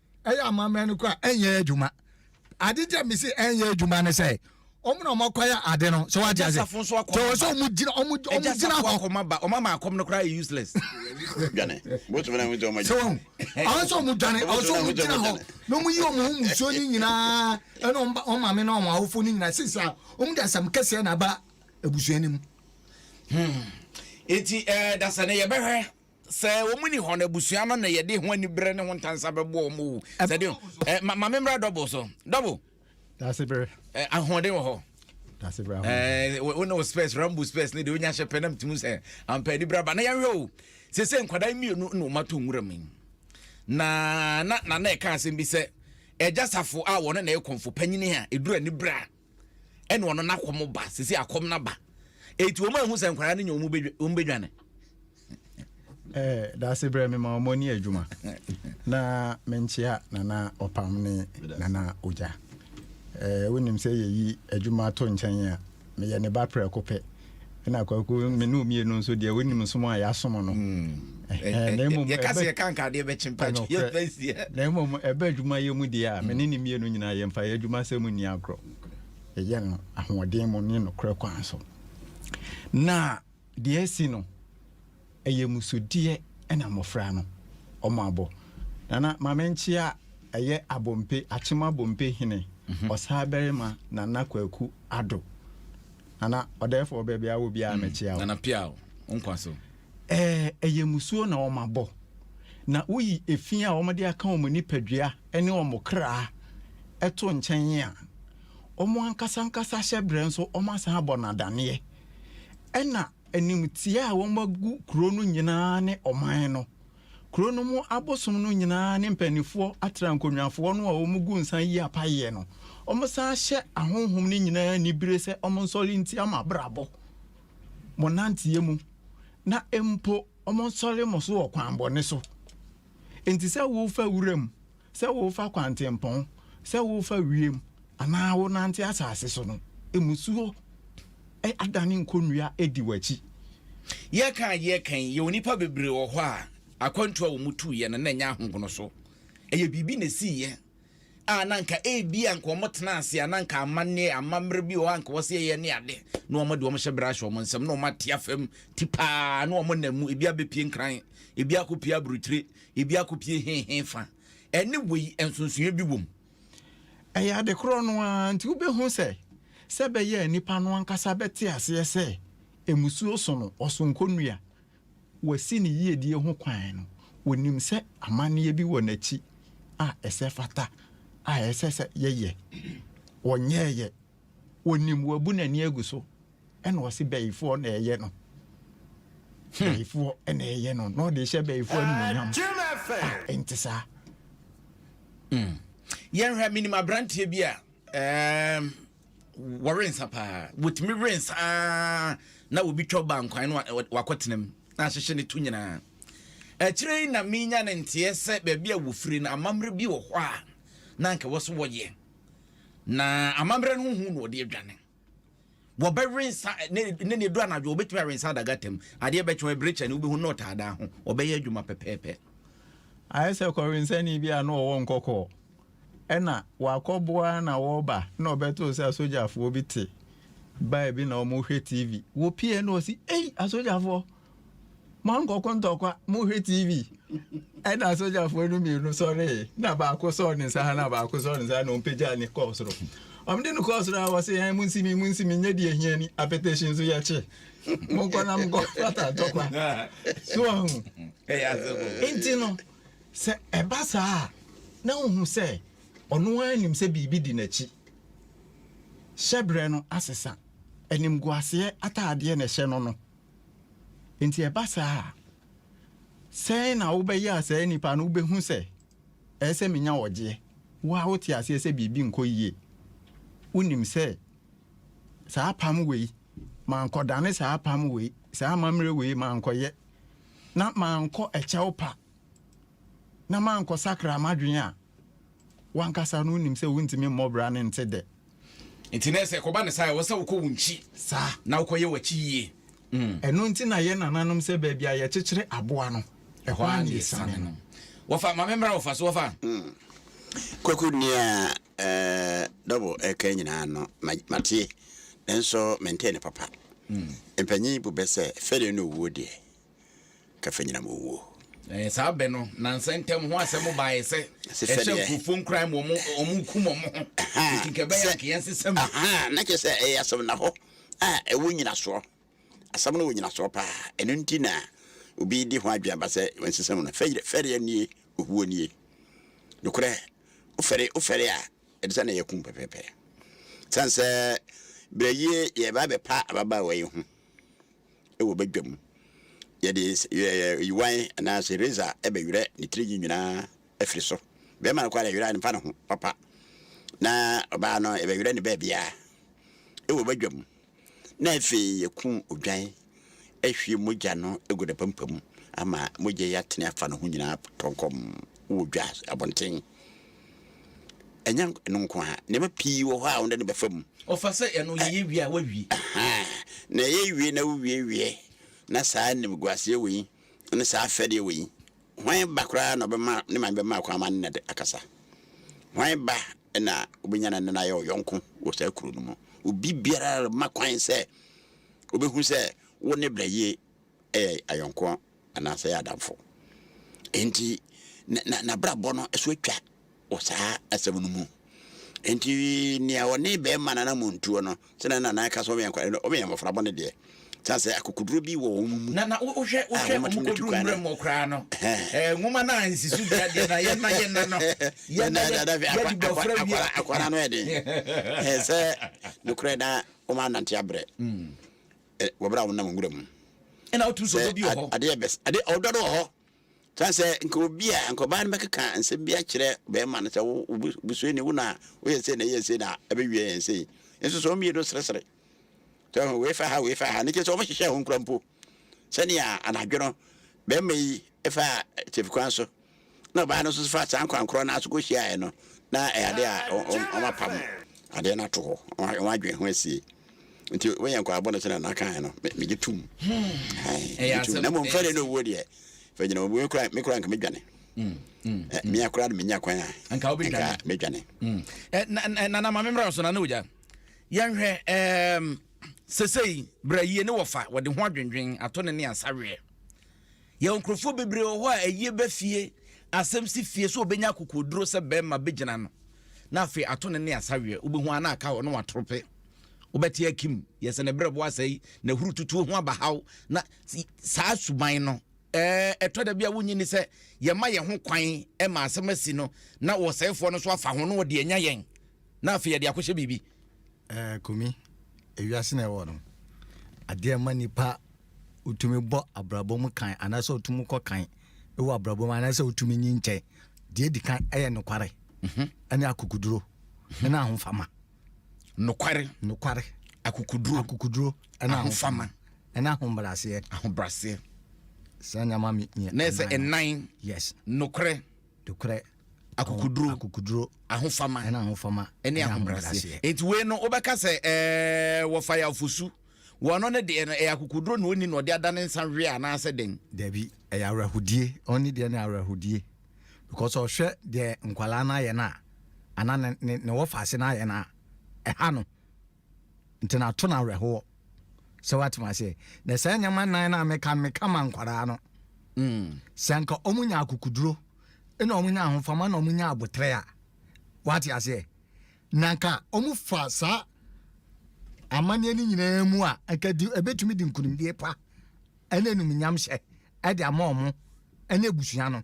ɛyɛ amammerɛ no kora ɛnyɛ adwuma ade nti a mese ɛnyɛ adwuma ne sɛ ɔmo na ɔmo akɔyɛ ade no so wate ase tɔwɔ sɛ ɔmo gyina ɔmo ɔmo gyina hɔ ɔmo ba ɔmo ama akɔm no koraa yɛ useless dwane bótó bɛnɛ ɔmo gyina ɔmo gyina ɔmo sɛ ɔmo dwane ɔmo sɛ ɔmo gyina hɔ na ɔmo yi ɔmo ho musuo ne nyinaa ɛna ɔmo ba ɔmo maame na ɔmo awofo ne nyinaa sisi a ɔmo de asɛm kɛseɛ na aba abusua ne mu. Hmm. eti ɛɛ eh, dasani yɛbɛhwɛ Sɛ wɔn ni hɔ no, abusua no na yɛde ho anibere ne ho ntansa bɛbɔ wɔn o. Sɛ de ɛ ma ma memmra dɔbo so dɔbo. Daase bere. Ɛ ahoɔden wɔ hɔ. Daase bere ahoɔden. Ɛɛ wo ne wo space rambo space ne de onya hyɛ pɛ na mtumi sɛ ampa anibere aba na yɛnhwɛ o. Sɛ sɛ nkwadaa mmienu na wɔn ato nwura mu na na na na ɛka asɛm bi sɛ ɛgya safo a wɔn na ɛkɔmfo panyin a edura anibere a ɛna ɔno n'akɔm ba sisi akɔm n'aba eti wɔn ehu sɛ nkwadaa no nya wɔn bɛ wɔn bɛ dwane. ɛɛ daase brɛ mi ma wɔn ni adwuma na me nkyia nana ɔpam ne nana ogya ɛɛ wonim sɛ yɛyi adwuma to nkyɛn a meyɛ ne ba prɛko pɛ. ɛna kwaku me ne omie no nso deɛ wonim som a yɛasom no yɛka sɛ yɛka nka adeɛ bɛkye mpa yɛbɛsiɛ na mmom ɛbɛ adwuma yɛ mu deɛ a me ne ne mmienu nyinaa yɛmfa yɛ adwuma sɛ mu nni agorɔ ɛyɛ no ahoɔden mu ne nokorɛ kwan so na deɛ asi no Ɛyɛ musudeɛ na mmɔfra no ɔmɔ abɔ. Nana mame nkyea ɛyɛ abompe akyem abompe hene ɔsaa barima nana kwaku ado nana ɔdɛɛfɔɔ baabi a wɔ biaa mɛkyea wo. Nana pia o wo nkwa so. Ɛɛ ɛyɛ musuo na ɔmɔ abɔ na woyi efi a ɔmɔ de aka ɔmɔ nipadua ɛne ɔmɔ kraa ɛto nkyɛn a ɔmɔ ankasa ankasa hyɛbrɛ nso ɔmɔ asan abɔ no adaneɛ ɛna Animtiaa a wɔagu kuro no nyinaa ne ɔman no. Kuro no mu abosom no nyinaa ne mpaninfoɔ atra nkɔnwafoɔ no a wɔgu nsa yi apayeɛ no. Wɔsan hyɛ ahonhom no nyinaa anibire sɛ wɔnsɔre ntia mo abrabɔ, mo nanteɛ mu, na mpo wɔnsɔre mo so wɔ kwan bɔne so. Enti sɛ worefa wuram Sɛ worefa kwantempɔn, sɛ worefa wiem, anaa wonante asase so no, mmusuo adane nkonnua adi w'akyi. Yɛreka a yɛreka yi, yɛwɔ nnipa bebree wɔ hɔ a, akwantuo a wɔtuiɛ no, na ɛnyɛ ahogono so. Ɛyɛ biribi na ɛsiiɛ a na anka ebia anka wɔtena ase a na anka amanneɛ, amammerɛ bi wɔ hɔ a anka wɔsɛ yɛyɛ ne ade, na wɔde wɔn hyɛ berɛ ahyɛ wɔn nsam, na wɔate afam ti paa, na wɔnam mu, ebi abɛpie nkran, ebi akɔpie aburokyire, Ebi akopue he he fa. Ɛne wei nsonsonoeɛ bi wom. Ɛyɛ ade korɔ no ara nti wobɛhu sɛ sɛ ɛbɛyɛ a nnipa no ankasa bɛte aseɛ sɛ mmusuo so no ɔsonko nnua, wasi ne yiedie ho kwan no, ɔnim sɛ amanneɛ bi wɔ n'akyi a ɛsɛ fata a ɛsɛ sɛ yɛyɛ. Ɔnyɛeɛ onim wabu n'ani agu so ɛna ɔse bɛyifoɔ na ɛyɛ no hmm. bɛyifoɔ ɛna ɛyɛ no na ɔde hyɛ bɛyifoɔ anuonyam ah, ɛnte saa hmm. yɛnhwɛ menim aberanteɛ bi a wɔrensa paa wɔtumi rensa ah, na wɔbi twa ba nkwan no wakɔtenam na ahyehyɛ no to nyinaa akyire yi na menya ne nteɛ sɛ baabi a wɔfiri no amammerɛ bi wɔ hɔ a na anka wɔ so wɔyɛ Na amammerɛ no ho hu na ɔde adwane. Wɔbɛwe nsa ne ne ne du anadwo wɔbɛtumi awe nsa adaga tam. Adeɛ bɛkyɛ ɛbere kyɛ ne wobɛhu na ɔtaa daa ho. Ɔbɛyɛ adwuma pɛpɛɛpɛ. Ayɛ sɛ kɔwensani bi a na ɔwɔ nkɔkɔɔ ɛna wakɔboa na wɔba na ɔbɛtoo sɛ asogyafoɔ bi te baa bi na wɔhwɛ TV. Wɔpie na ɔsi ei asogyafoɔ. Moankɔko ntɔkwa, mohwɛ TV. Ɛna sogyafoɔ no mmienu sɔree, na baako sɔɔ ne nsa ha na baako sɔɔ ne nsa ha na ɔmpagyaa ne kɔɔ soro. Ɔmde no kɔɔ soro a wɔse yɛn mo nsimi mo nsimi nyɛ deɛ hia ni, apɛtɛhyi nso yɛkye. Monkɔ na monkɔ fata ntɔkwa. So ahu? Nti no, sɛ ɛba saa a, na wohu sɛ ɔno ara nim sɛ biribi di n'akyi. Hyɛbrɛ no asesa. Animguaseɛ ataadeɛ na ɛhyɛ no no. Enti ɛba saa a, sɛn na wobɛyɛ a saa nipa no wobɛhu sɛ ɛyɛ sɛ menya ɔgyeɛ? Wo a wote aseɛ sɛ biribi nkɔ yie, wonim sɛ saa apam wei, mankɔdane saa apam wei, saa amammerɛ wei mankɔyɛ, na mankɔ ɛkyɛw pa, na mankɔsakra m'adwene a, W'ankasa no wonim sɛ wontumi mmɔ bra no nte dɛ. Nti na ɛsɛ kɔba ne saa ɛwɔ sɛ wokɔ wo nkyi saa na wokɔ yɛ w'akyi yie. Mm. Ɛno nti na yɛ nananom sɛ baabi a yɛkyekyere aboa no ɛhɔ a na yɛsane no. Wɔfa ma me mmra wɔfa so wɔfa. Mm. Kwaku nea eh, double ɛka nyinaa no matie nanso mentee ne papa. Mm. Mpanyin bu bɛ sɛ fɛre no owuo deɛ. Kafenyinam owuo. Saa bɛ no na nsɛntɛm ho asɛm baeɛ sɛ ɛhyɛ nkurɔfoɔ nkuran ma wɔkum wɔn ho enti nka ɛbɛyɛ anka yɛnsesa mu. Na kyerɛ sɛ ɛyɛ asɛm na hɔ a ɛwɔ nyinasoɔ. Asɛm no wɔ nyinasoɔ pa ara. Ɛno nti na obi de ho adwene aba sɛ wɔnsesa mu no. Fɛreɛ nie, owuo nie. Nokorɛ, wofɛre wofɛre a, ɛde sɛ na yɛakum wo pɛpɛɛpɛ. Ɛsiane sɛ berɛ yi yɛreba abɛpa ababaawa yi ho. wɔ badwa mu. Yɛde yiwan anaasɛ razor bɛwerɛ ne tiri nwi nyinaa afiri so. Bɛrima no kɔ ara yɛwerɛ a mfa ne ho papa, na ɔbaa no yɛbɛwerɛ ne baabiara wɔ badwa mu, na afei yɛkum odwan ahwie mogya no agu ne pampa mu ama mogya yi atene afa ne ho nyinaa tɔnkɔm wɔ dwa abɔnten. Ɛnyɛ ɛno nko ara, nneɛma pii wɔ hɔ a wo de no bɛfa mu. Ɔfa sɛ ɛno yɛyɛ wie a woawie. Ahaa, na ɛyɛ wie na wowie wie na saa animguaseɛ wei ne saa fɛdeɛ wei, hwan ba koraa na ɔbɛma ne maame bɛma kwan ama ne nna de akasa? Hwan ba na wobɛnya ne nna no ayɛ ɔyɔnko wɔ saa kuro no mu? Obi biara remma kwan sɛ wobɛhu sɛ wo ne Brayie yɛ ayɔnkoɔ anaasɛ yɛ adamfo. Enti n'abrabɔ no so atwa wɔ saa asɛm no mu. Enti nea ɔne bɛrima nana mu ntuo no, sɛnea nana ɛka sɛ wɔyɛ nkwadaa no, wɔyɛ mmɔfra bɔne deɛ. Sane sɛ akokoduro bi wɔ wɔn mu. Na na wohwɛ wohwɛ wɔn kɔduru mmerɛ mu koraa no, ɛɛ nwoma no a nsisu bi adeɛ na yɛn na yɛn na no, yɛn na yɛn yɛde bɔ afra wie. Akwadaa no yɛ den. Ɛɛ sɛ nokorɛ na wɔn anante abrɛ. eh, wɔ berɛ a wonam nwura mu ɛna wotumi sɛ ɔdɔ bi wɔ hɔ adeɛ bɛs adeɛ ɔdɔ no wɔ hɔ san sɛ nka obi a nka ɔbaa no bɛkeka nsɛm bi akyerɛ bɛrima no sɛ wobusua ni wo na woyɛ sei na ɛyɛ sei na ɛbɛwie yɛn sei nso sɛ ɔmmienu seresere sɛ wei fa ha wei fa ha ne kyɛ sɛ ɔmhyehyɛ ho nkura mpo sɛnea anadwo no bɛrima yi fa tefukwan so na ɔbaa no nso faa saa nkwankora no nso kɔhyiaeɛ no, na ɛyɛ adeɛ a wɔapam adeɛ no ato hɔ, wɔn adwene ho asie. Nti woyɛ nkwaabɔ no sɛdeɛ nakaeɛ no, megye tom. Hmm. Na mmom fɛre no owuo deɛ, fɛ gyina owuo kora, me kora nka medwane. Hmm. Hmm. Eh, mea kora no menya kwan a, nka medwane. Eh, eh, Nana ma memmra so, nana ogya. Yɛnhwɛ sesei, berɛ yie ne wɔfa, wɔde ho adwendwen ato ne ne asaweɛ. Yɛwɔ nkurɔfoɔ bebree wɔ hɔ a ayie ba fie, asɛm si fie sɛ ɔbɛnya akokoɔduro sɛ barima bɛgyina ano na afei ato ne ne asaweɛ, wobɛhu a na aka hɔ na watorope. Wobɛte akim, yɛ sɛ ne berɛboɔ asɛe, na hurututuo ho aba haw, na saa suban no, ɛtɔ da bi a wonnye nni sɛ yɛma yɛn ho kwan ma asɛm asi no na ɔsɛefoɔ no nso afa ho na ɔde anya yɛn. na afei yɛde akɔhyɛ biribi. Ɛɛ Kumi, ewiase na ɛwɔ no. Adeɛ ɛma nipa wotumi bɔ abrabɔ mu kan anaasɛ wotumi kɔ kan wɔ abrabɔ mu anaasɛ wotumi nyi nkyɛn. Deɛ di kan ɛyɛ nokware mhm. ɛne akokuduro mhm. ɛne ahofama. Nokware. Nokware. Akokuduro. Akokuduro ɛne ahofama ɛne ahobraseɛ. Ahobraseɛ. Saa nneɛma mi. Na ɛsɛ ɛnan. Yes. Nokorɛ. nokorɛ, akokoduro, akokoduro, ahofama, ɛna ahofama, ɛne ahobrɛaseɛ. Enti wei no wobɛka sɛ ɛɛ wɔfa yɛ afosu. Wɔn no ne deɛ no ɛyɛ akokoduro na ɔni na ɔde adane nsa hwɛ anaasɛ den. Dabi, ɛyɛ awerɛhodie. Ɔni deɛ no yɛ awerɛhodie because ɔhwɛ deɛ nkwadaa no ayɛ no a anaa ne ne ne wɔfa ase no ayɛ no a ɛha no. Ntsi na to no awerɛhoɔ. Sɛ woatse me aseɛ? Na saa nneɛma nnan no a meka no, meka ma nkwadaa no. Sɛ anka wɔnya akokoduro, na wɔnya ahofama, na wɔnya aboterɛ a, woate aseɛ? Na anka wɔfa saa amanneɛ no nyinaa mu a, anka di, ɛbɛtumi de nkonimdie pa ɛne animuonyamhyɛ ɛde ama wɔn ɛne abusua no.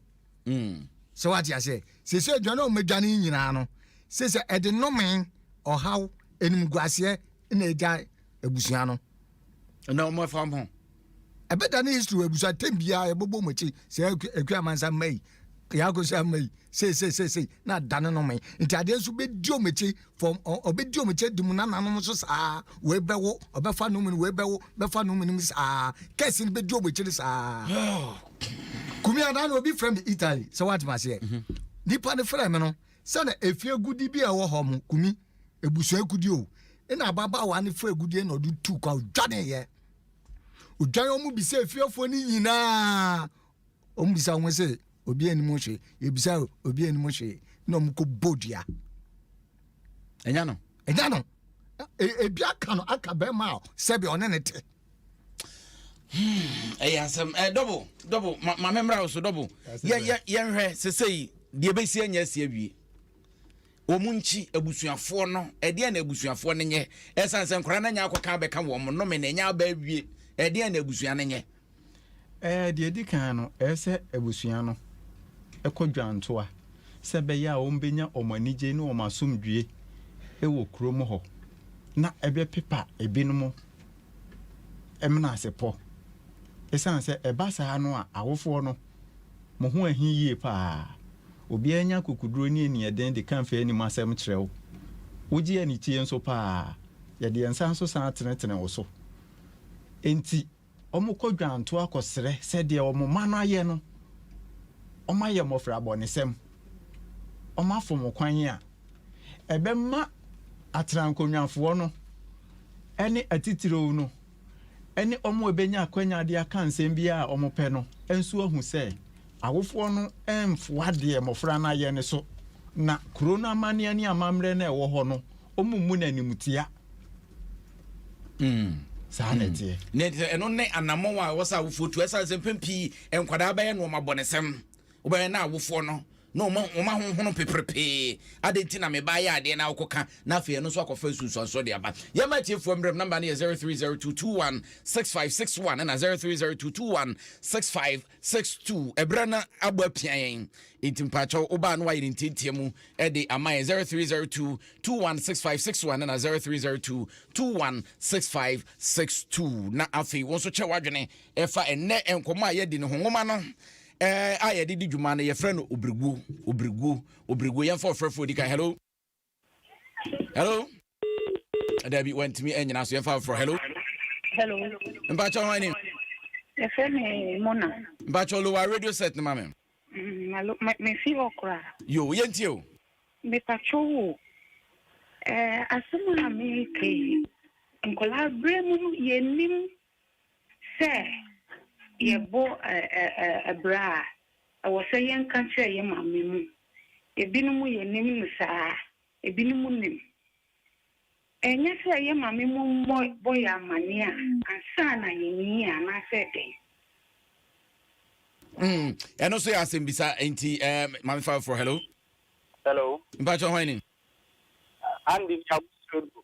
Sɛ wate aseɛ? Seesei adwane a wɔadwane yi nyinaa no, seesei ɛde nnome, ɔhaw, animguaseɛ na agya abusua no. Na wɔn afa wɔn ho. Ɛbɛda ne history wɔ abusua tɛm biara yɛbɛbɔ wɔn akyi sɛ akua amansa mma yi, yɛakɔsi ama yi, seesei seesei na adane nnome. Nti adeɛ nso bɛdi wɔn akyi fam ɔ ɔbɛdi wɔn kyɛ di mu nananom nso saa wei bɛwo ɔbɛfa no mu no wei bɛwo bɛfa no mu no mu saa kɛse no bɛdi wɔn akyiri saa kumi adaa na obi frɛ me italy sɛ woatema aseɛ mhm. nipa no frɛ me no sɛ na efie gudi bi a ɛwɔ hɔ mo kumi ebusua gudi o ɛna ababaawa no frɛ gudi na ɔde tu kwa odwane yɛ odwane wɔn bi sɛ efiefoɔ no nyinaa Wɔn bisa wɔn sɛ obi anim hwee yɛbisa obi anim hwee na wɔn kɔ bɔ dua ɛnya no ɛnya no ebi aka no aka bɛrima a sɛbi ɔne ne te. Hmm, ɛyɛ asɛm ɛ dɔbo dɔbo maame mmra wo so dɔbo yɛnhwɛ sese yi deɛ bɛsi anya asi awie wɔn nkyi abusuafoɔ no ɛdeɛ na abusuafoɔ no nyɛ ɛsan sɛ nkora no anya akɔka bɛka wɔn nnome na ɛnya aba awie ɛdeɛ na abusua no nyɛ. Ɛɛ, deɛ ɛdi kan no, ɛyɛ sɛ abusua no kɔ dwantoa sɛ ɛbɛyɛ a wɔbɛnya wɔn anigye ne wɔn asomdwoeɛ wɔ kurom hɔ, na ɛbɛpepa ebinom menasepɔ. Ɛsiane sɛ ɛba saa no a, awofoɔ no, mo ho ahi yie paa. Obiara nya akokoduro ne aniɛden de ka mfɛɛ anim asɛm kyerɛ wo. Wogye anikyie nso paa. Yɛde yɛn nsa nso san tenetene wo so. Enti, Wɔkɔ dwantoa kɔsrɛ sɛ deɛ wɔn mma no ayɛ no, wɔayɛ mmɔfrabɔnesɛm, wɔafom kwan a ɛbɛma atrankonnwafoɔ no ne atitiriw no ne wɔn a ɛbɛnya akwanya de aka nsɛm biara a wɔpɛ no nso ahu sɛ awofoɔ no mfoa deɛ mmɔfra no ayɛ no so na kuro no amanneɛ ne amammerɛ no a ɛwɔ hɔ no, wɔmmu no animtia. Mm. saa na hmm. ɛteɛ na ɛno ne anammɔn a ɛwɔ sɛ awofoɔ tu ɛsiane sɛ mpɛn pii nkwadaa bɛyɛ nnoɔma bɔnesɛm wobɛyɛ na awofoɔ no na wɔma honhono peperepee ade nti na meba yɛ adeɛ na wokɔka na afei ɛno nso akɔfa nsunsuansoɔ de aba yɛma atiefoɔ mmerɛm namba no yɛ 0302216561 ɛna 03022165 Six two ɛbrɛ na abɔ apia yɛn nti mpakyɛw wobaa no wayɛ ne ntiantia mu ɛde ama yɛn zero three zero two two one six five six one na zero three zero two two one six five six two na afei wɔn nso kyɛ wadwene ɛfa ɛnɛ nkɔmɔ a yɛdi ne ho nwoma no ɛɛ a yɛde di dwuma no yɛfrɛ no obiriguo obiriguo obiriguo yɛn fɔ ɔfrɛfoɔ di kan hello. hello dabi wantumi anyina so yɛmfa foforɔ hello hello mpakyɛ hwan ni yɛfrɛ me mona mpakyɛ lowa radio set no ma me mm, mefi hɔ koraa yo yɛntie o mepakyɛ wo asɛm a meka yi nkɔlaa berɛ mu yɛnim Sɛ yɛbɔ abira a, ɛwɔ sɛ yɛka kyerɛ yɛn maame mu. Ebinom yɛnim no saa, ebinom nim. Ɛnyɛ sɛ yɛn maame mu mmɔ yɛn amanneɛ a, ansa na yɛnyin anaasɛ dɛn? Mm, ɛno nso yɛ asɛmbisa nti eh, maame fa foforɔ hello hello mpakyɛ hwan ni andy nyabosuodo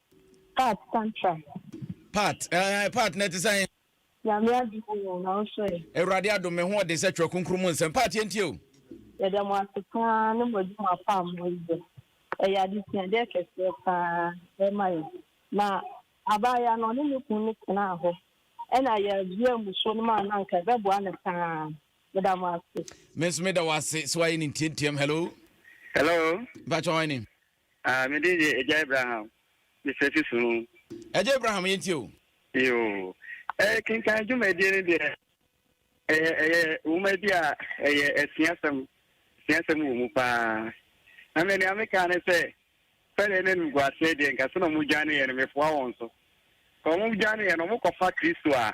Part tantrum. Part eh part na ɛte sɛn. Nyame adom oo na wo so ɛ. Awurade adom me ho ɔden sɛ twerɛ kronkron mu nsɛm. Part yɛ ntie o. Yɛda mo ase paa ne mo adwuma pa a mo yɛ. Ɛyɛ adesuadeɛ kɛseɛ paa ɛma yɛn. Na abaayewa no ɔne ne kunu no tenaa hɔ ɛna yɛduaa mmusuo no maa no anka ɛbɛboa no paa. Meda mo ase. Me nso meda wo ase sɛ woayɛ ne ntiantiam. Hello. Hello. Mpakyɛ hwan ni? Ah, me din de Agya Abraham, Mister Susumu. Agya Abraham, yɛn tie o. Yoo, eh, kenkan dwumadie no deɛ, ɛyɛ, ɛyɛ nwoma bi a ɛyɛ asuasɛm, asuasɛm wɔ mu paa. Na me nea meka ne sɛ, sɛdeɛ na animguaseɛ deɛ nka sɛ na wɔdwaneeɛ no, mefoa wɔn so. Sɛ wɔdwaneeɛ no, wɔkɔfa Kristo a,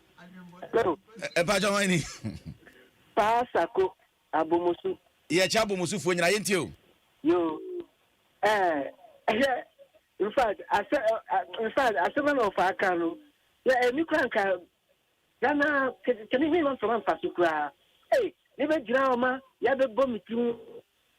Hello. Mpakyɛ hwan ni? Paa Sako, Abomosu. Yɛkyɛ Abomosufoɔ nyina, yɛntie o. Yo, eh, hwɛ, in fact, asɛ, in fact, asɛm na ɔfa aka no, yɛ ɛni kora nka, Ghana, kɛne hwɛ ma mfama mfa so koraa, eh, ne bɛgyina ɔma, yɛbɛbɔ me timu,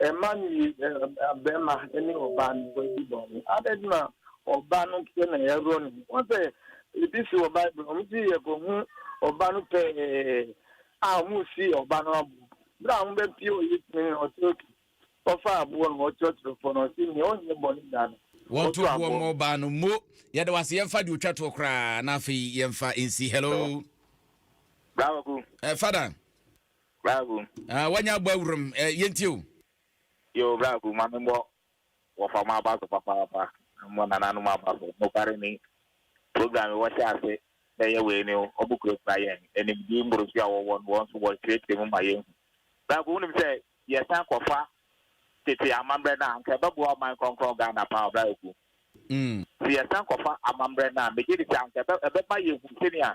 Mma nni barima ne ɔbaa no ho adi bɔne. Adɛn nti na ɔbaa no nko na yɛaworɔ ne ho? Woahu sɛ ebi si wɔ Bible no, wɔsi yɛkɔhu ɔba no pɛɛ a wɔresi ɔba no abo. Berɛ a wɔbɛpue wɔ Yesu anim no, ɔte otu. Ɔfa aboɔ no, ɔkyerɛkyerɛ fam, na ɔse, Nea ɔnyɛ bɔne da no, Wɔnto ɔto boɔ aboɔ. mmɔ ɔbaa no. Mo, yɛda wo ase. Yɛmfa deɛ ɔtwa toɔ koraa na afei yɛmfa nsi. Hello. Hello. Bra Kwaku. Eh, Father. Braku. Ah, wanya abɔ awuram. Eh, yɛntie o. Yo, braku, ma me mmɔ wɔfa mo aba so papaapa. Mmɔ nananom aba so. Nokware ni, program yi wɔhyɛ ase bɛyɛ wei ni, wɔkurakura yɛn animdie mmorosu a wɔwɔ no, wɔn nso wɔkyerɛkyerɛ mu ma yɛhu. Braku, wonim sɛ yɛsan kɔfa tete amammerɛ no a, anka ɛbɛboa ɔman krɔnkrɔn Ghana paa o, braku. Mm. Sɛ yɛsan kɔfa amammerɛ no a, megye di sɛ anka ɛbɛma yɛhu sɛnea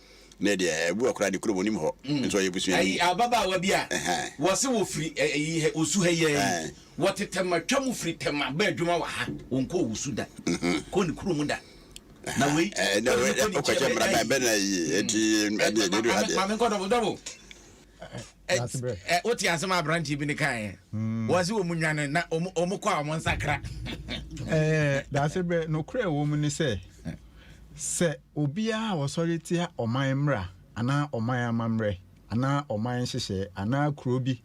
Nnɛ deɛ ɛbu hɔ koraa de kurom onim hɔ nso ɔyɛ busuani. Ayi ababaawa bi a wɔse wɔfiri ayi ha Osu ha yi ara yi wɔte Tema twa mu firi Tema ba adwuma wɔ ha wɔnkɔɔ Osu da kɔ ne kurom da na wei ɛna wei wokɔkyɛ mmara bɛn bɛn na ayi eti ɛdeɛ deɛ du ha deɛ. Maame nkɔ dɔbo dɔbo. wote asɛm aberanteɛ bi ne kaeɛ hmm. wɔ se wɔ mu nwane na ɔmu kɔ a ɔmo nsakra daase berɛ nokorɛ wɔ mu ne sɛ sɛ obiaa wɔsɔre tia ɔman mmra anaa ɔman amammerɛ anaa ɔman nhyehyɛɛ anaa kuro bi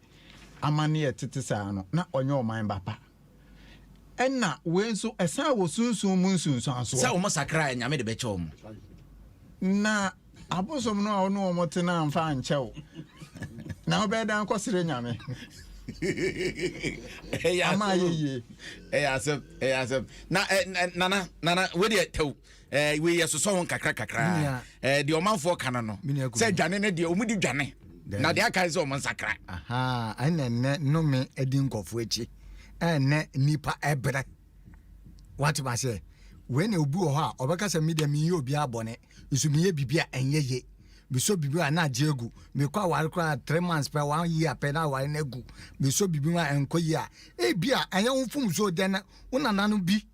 amanneɛ tete saa no na ɔnyɛ ɔman ba pa Ɛna wei nso ɛsan wɔ sunsun mu nsunsuansoɔ. Sɛ wɔn sakra a nyame de bɛkyɛ wɔn. Na abosom no a wɔn ne wɔn tena nfa nkyɛ wo na wobɛyɛ dan kɔsere nyame. Ama ayɛ yie. Ɛyɛ asɛm ɛyɛ asɛm na nana nana wei deɛ tɛw. ɛɛ wei yɛ sosɔ ho kakra kakra ɛɛ deɛ ɔmanfoɔ ka no no sɛ dwane ne deɛ wɔn di dwane na deɛ aka sɛ wɔn nsakra. ɛna nnɛ nnome adi nkɔfoɔ akyi ɛnɛ nipa ɛbrɛ wate ma sɛ wei na obi wɔ hɔ a ɔbɛka sɛ mi deɛ mi yɛ obi abɔne nso mi yɛ biribi a ɛnyɛ yɛ meso biribi a na agye agu mekɔ aware koraa three months pɛ one year pɛ na aware no agu meso biribi a ɛnkɔ yi a ebi a ɛyɛ wo mfomso dɛn wo nananom bi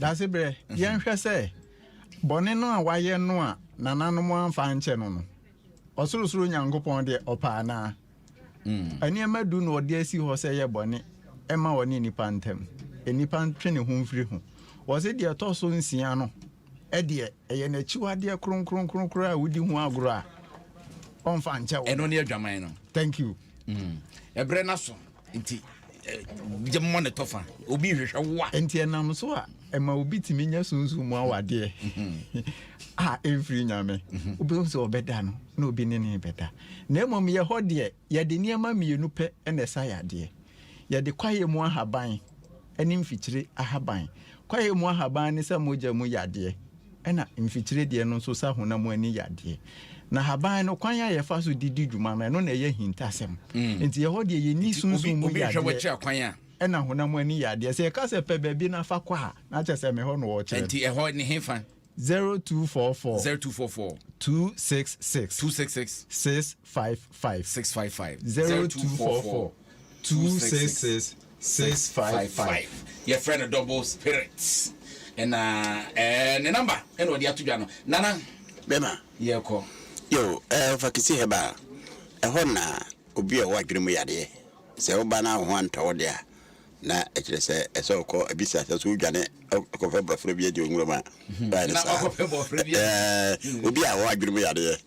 Dasebrɛ, yɛnhwɛ sɛ bɔne no a wayɛ no a nananom amfa ankyɛ no no, ɔsorosoro Nyankopɔn deɛ ɔpɛ anaa? Mm. Nneɛma du na ɔde asi hɔ sɛ yɛ bɔne ɛma ɔne nipa ntam. Nipa ntwe ne ho mfiri ho. Wɔse deɛ ɛtɔ so nsia no ɛdeɛ ɛyɛ n'akyiwadeɛ kronkronkronkron a wodi ho agorɔ a ɔmfa nkyɛ wo. Ɛno ne adwaman no. Thank you. Mm. Ɛbrɛ no aso. Nti gye mmɔ ne tɔfa obi nhwehwɛ wo a. Nti ɛnam so a ɛma obi tumi nya sunsun mu awadeɛ mhm. a ɛmfiri nyame mhm. wobɛhu sɛ ɔbɛda no na obi ne ne bɛda na mmom yɛ hɔ deɛ yɛde nneɛma mmienu pɛ na ɛsa yɛ adeɛ yɛde kwaeɛ mu ahaban ne mfikyire ahaban kwaeɛ mu ahaban ne sɛ mogya mu yadeɛ ɛna mfikyire deɛ no nso sɛ honam ani yadeɛ. Na haban no, kwan a yɛfa so de di dwuma no, ɛno na ɛyɛ ahintasɛm. Mm. Nti ɛhɔ deɛ yɛni sunsun mu yadeɛ ɛna honam ani yadeɛ. Sɛ yɛka sɛ pɛ baabi na fa kɔ a, na kyɛ sɛ mehɔ na wɔkyerɛ. Nti ɛhɔ ne hefa? 0244 0244 266 266 655 655 0244 266 Six five five yɛfrɛ no double spirit na ɛɛ ne number ɛna ɔde ato dwa no nana bɛma yɛkɔ. Yo ɛɛ fa kisi hɛba ɛhɔ na obi a ɔwɔ adwene mu yadeɛ sɛ woba na wo ho antɔ wo de a na ɛkyerɛ sɛ ɛsɛ ɔkɔ ebi sɛ asɛ so wodwane ɔkɔfɛ bɔfrɛ bi adi onwura mu a ɛɛ obi a ɔwɔ adwene mu yadeɛ.